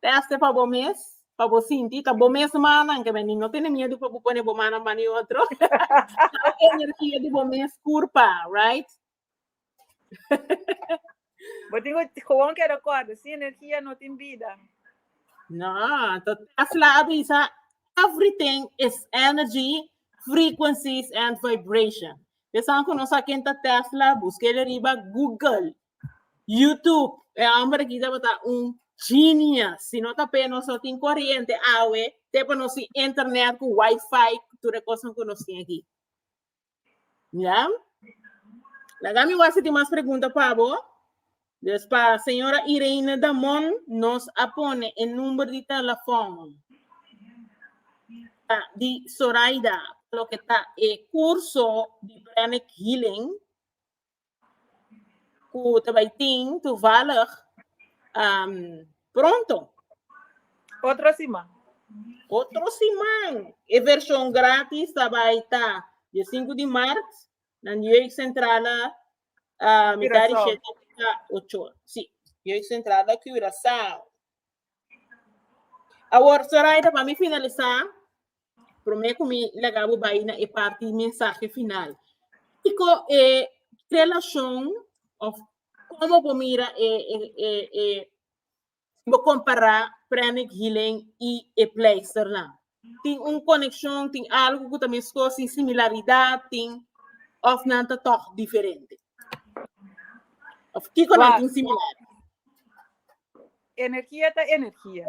Teste pa bo mes, pa bo sinti ta bo mes mannan ke bending. No tene miedu pa bo pone bo mannan banda e otro. Sa e energia di bo mes kurpa, right? Bo tin ku gewoon ke rekorda, sin energia no tin bida. No, to Tesla a bisa, everything is energy, frequencies and vibration. Esaku no sa ken ta Tesla, buska el riba Google. YouTube, e hombre aquí tabata un genius. Si no tape nos no tin corriente awe, tepa nos sin internet cu wifi, ture cosa cu nos tin aquí. Ya? Laga mi wasi tin mas pregunta pabo. Dus pa señora Irene Damon nos a pone e number di telefon ah, di Soraida lo que ta e curso di pranic healing ku ta bai tin toevallig um, pronto. Otro siman. Otro siman, e version gratis ta bai ta di 5 di maart na Jeugd Centrale uh, mitad di Curaçao. 7 ta 8. Sí, Jeugd Centrale Curaçao. Awor, Soraida, pa mi finalisá, Promé ku mi laga bo bai na e parti mensahe final. Kiko e relashon of komo bo mira e e e e si bo kompará Pranic Healing i e pleisternan? Tin un konekshon, tin algu ku ta meskos, tin similaridat, tin of nan ta tòg diferente? Of kiko nan Wow. tin similar? Energia ta energia.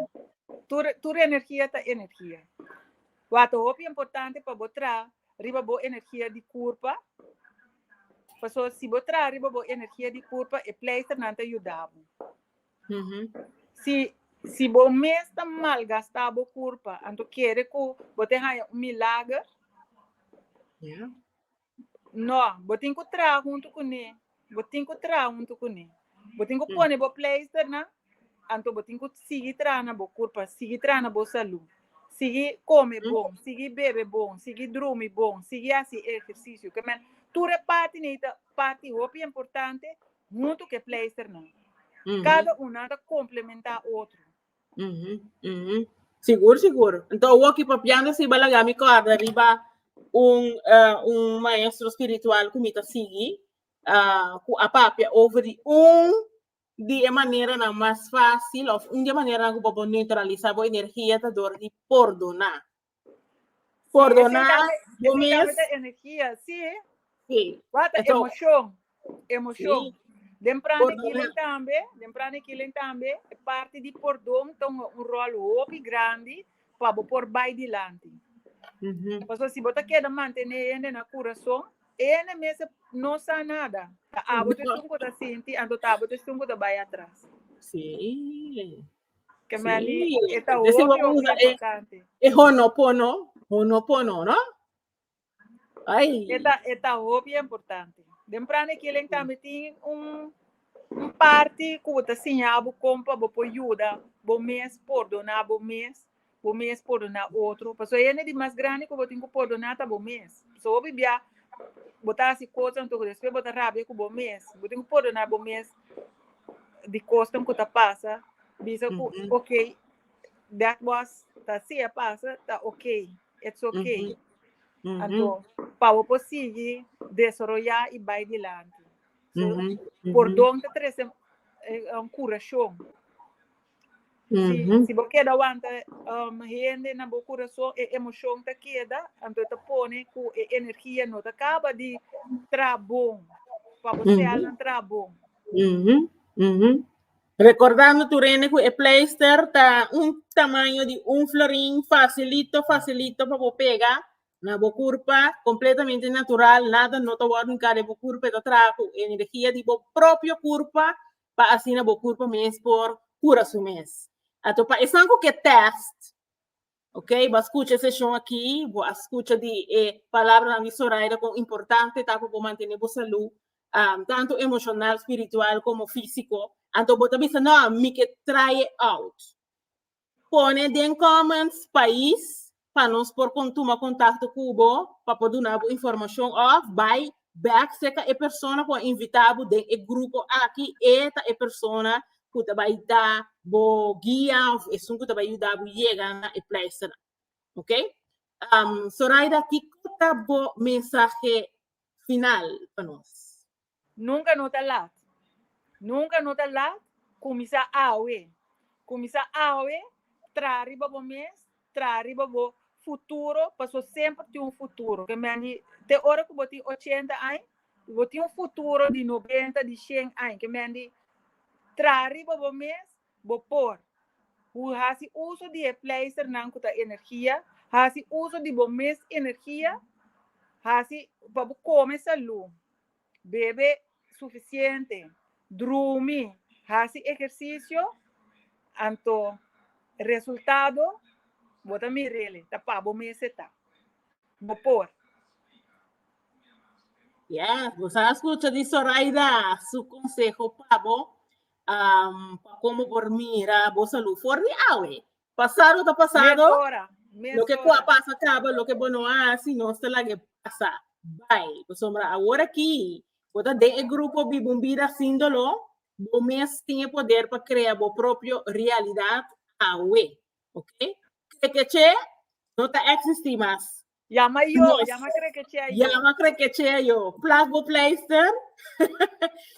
Tur tur energia ta energia. Wata hopi importante pa bo traha riba bo energia di kurpa, paso si bo traha riba bo energia di kurpa e pleisternan ta yuda bo. Si si bo mes ta malgasta bo kurpa anto kere ku bo te haña un milager? No, bo tin ku traha huntu kuné. Bo tin ku traha huntu kuné. Bo tin ku pone bo pleisternan, anto bo tin ku sigui traha na bo kurpa, sigui traha na bo salú, sigui kome bon, sigui bebe bon, sigui drumi bon, sigui hasi ehersisio. Ke men, tur e parti nei ta parti hopi importante huntu ku e pleisternan. Kada un nan ta komplementá otro. Sigur sigur enton awor ki papiando así balak ya mi corda riba un un maestro spiritual cu mi ta sigui cu a papia over di un di e maneranan mas facil of un di e maneranan cu bo por neutralisa bo energia ta dor di pordona For do na yo mes. Esa energia, si. Si. Wata emocion, emocion. Den prana kilen tambe, den prana kilen tambe, e parti di pordon ta un rol hopi grandi pa bo por bai dilanti. Pasobra si bo ta keda mantene e hende na kurason, e hende mes no sa nada. Ta abo ta esun ku ta sinti, anto ta abo ta esun ku ta bai atras. Si. Que me ali, Sí. esta Desi hopi, vamos hopi usar e- importante. E honopono, honopono, no? Ay. Esta, esta hopi importante. Den prane que len también tiene un, un parte que vos te enseña a vos compa, vos por ayuda, vos mes, por donar vos mes. bo mes pordona otro, pasobra e hende di mas grandi ku bo tin ku pordona ta bo mes. So hopi bia bo ta hasi kosnan tur despues bo ta rabia ku bo mes. Bo tin ku pordona bo mes di kosnan ku ta pasa, bisa ku okay, that was, ta así a pasa, ta okay, it's okay. Anto, pa bo por sigui desaroyá i bai dilanti. So, pordon ta trese un kurashon. Si, si bo keda wanta um, hende na bo corazon, e emoción ta keda, anto ta pone cu e energía no ta caba di tra bon, pa bo sel na tra bon. Mhm, mhm. Recordando tu rene cu e pleister ta un tamaño di un florin facilito, facilito pa bo pega na bo curpa, completamente natural, nada no ta wordo in cada bo curpa, ta traha cu energía di bo propio curpa, pa asina bo kurpa mes por kura su mes. Ato pa esan ku ke tèst, ok, bo a skucha e seshon aki, bo a skucha di e palabranan di Zoraida kon importante ta pa bo mantené bo salú, tantu emoshonal, spiritual komo físiko. Anto bo ta bisa, No, mi ke traye out. Pone den comments pais pa nos por con tuma contacto cu bo pa por duna bo informacion of bay back seca e persona cu a invita bo den e grupo aki e ta e persona cu ta bay da bo guia of esun cu ta bay yuda bo yega na e places nan. Ok? Um, Soraida, kico ta bo mensahe final pa nos? Nunka no ta lat. Nunka no ta lat, kuminsá awe. Kuminsá awe, traha riba bo mes, traha riba bo futuro, pasobra semper tin un futuro. Ke men di, te ora ku bo tin ochenta aña, bo tin un futuro di nobenta, di shen aña. Ke men di, traha riba bo mes, bo por. Bo hasi uso di e pleisternan ku ta energia, hasi uso di bo mes energia, hasi pa bo kome salú. Bebe sufisiente, drumi, hasi ehersisio, anto resultado bo ta mir'el, ta pa bo mes eta. Bo por. Ya, bo sa a scucha di Zoraida su conseho pa bo, pa como por mira bo salud for di awe. Pasado ta pasado. Loke ku a pasa kaba, loke bo no a hasi nos ta laga e pasa bai. Pasobra awor aki bo ta den e grupo biba un bida sin doló, bo mes tin e poder pa krea bo propio realidat awe. Oke? Krekechee no ta eksistí mas. Yama yo, Nos- yama krekechea yo. Llama Krekechea yo. Plas bo pleister.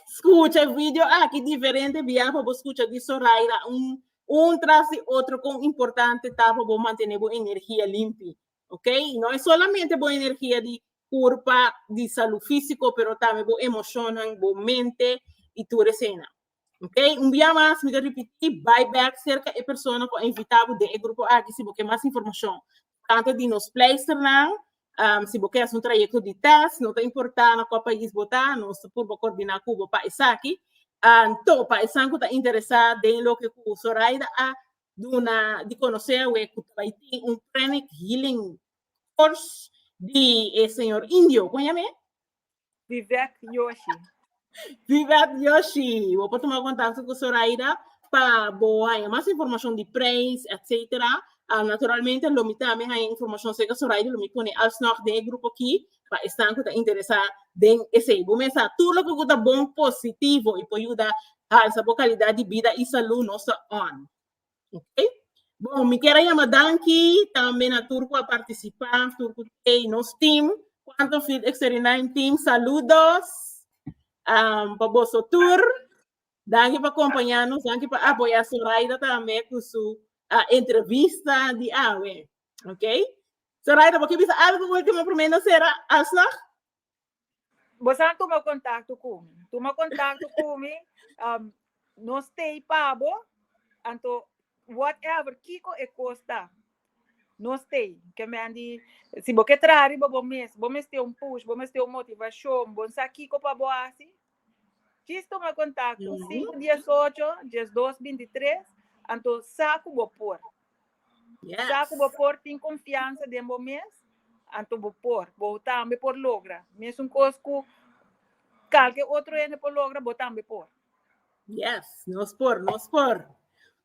Escucha el video aquí diferente via pa bo escucha di Soraira. Un, un tras di otro con importante ta pa bo mantener bo energía limpi. Ok? Y no es solamente bo energía di curpa, di salud físico, pero también bo emocionan, bo mente y tu resena. Ok? Un via más, me te repetí, buy back cerca e persona con invitado de e grupo aquí si bo quiere más información. Tanto di nos pleisternan, um, si bo ke haci un trayecto di test, no ta importa na kua pais bo ta, nos ta por bo coordina cu bo pa esaki. Um, to, pa esan cu ta interesa den loke cu Soraida a duna di conoce awe cu ta bai tin un pranic healing course di e señor Indio, con yame? Vivet Yoshi. Vivet Yoshi. Bo por toma contacto con Soraida pa bo haya más información de prijs, etc. Um, naturalmente, lo mi también haya información acerca Soraida, lo mi pone alsnog den el grupo aquí, pa estan que ta interesa den ese. Bo mesa, todo lo que ta bon, positivo, y po ayuda alza bo calidad de vida y salud, nos ta on. Okay. Bom, mi kier a yama danki tambe na tur ku a partisipá, tur ku tei nos team, Quantum Field X39 team, saludos um, pa boso tur. Danki pa kompañanos, danki pa apoyá Soraida tambe ku su uh, entrevista di awe. Okay. Soraida, bo ke bisa algo último primer na sera alsnog? Bo sa tuma contacto cu mi. Tuma contacto cu mi. Um, no stay pabo. Anto, whatever, kiko e costa. No stay. Que me andi, si bo que trari bo bo mes, bo mes te un push, bo mes te un motivacion, bo sa kiko pa bo asi, Djis tuma kontakto sinku dies ocho dies dos binti tres anto sa ku bo por. Sa ku bo por tin konfiansa den bo mes anto bo por bo tambe por logra mesun kos ku kalke otro hende por logra bo tambe por. Yes, nos por, nos por.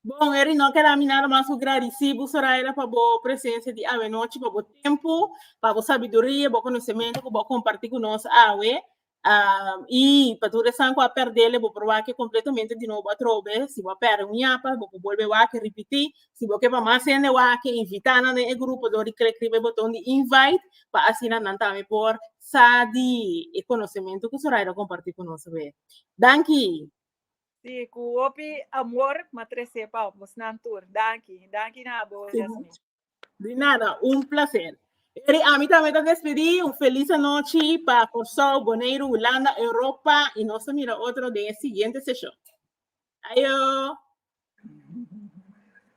Bon, Eric, no keda mi nada mas ku gradisi bu Soraida pa bo presensia di awe nochi, pa bo tempu, pa bo sabiduria, bo konosementu ku bo komparti ku nos awe. Am, i pa tur esan ku a perdele, bo por wak e kompletamente di nobo atrobe. Si bo a pèrdè un yapa, bo por bolbe wak e ripití. Si bo ke pa mas hende wak e, invitá nan den e grupo dor di klik riba e boton di invite, pa asina nan tambe por sa di e konosementu ku Zoraida kompartí ku nos awor. Danki! Si, ku hopi amor m'atres'é pa abos nan tur. Danki. Danki na abos, Yasmine. De nada, un placer. Eri ami ta meta despedi, un feliz anochi pa Kosau, Boneiru, Hulanda, Europa y nos ta mira otro den e siguiente session. Ayo!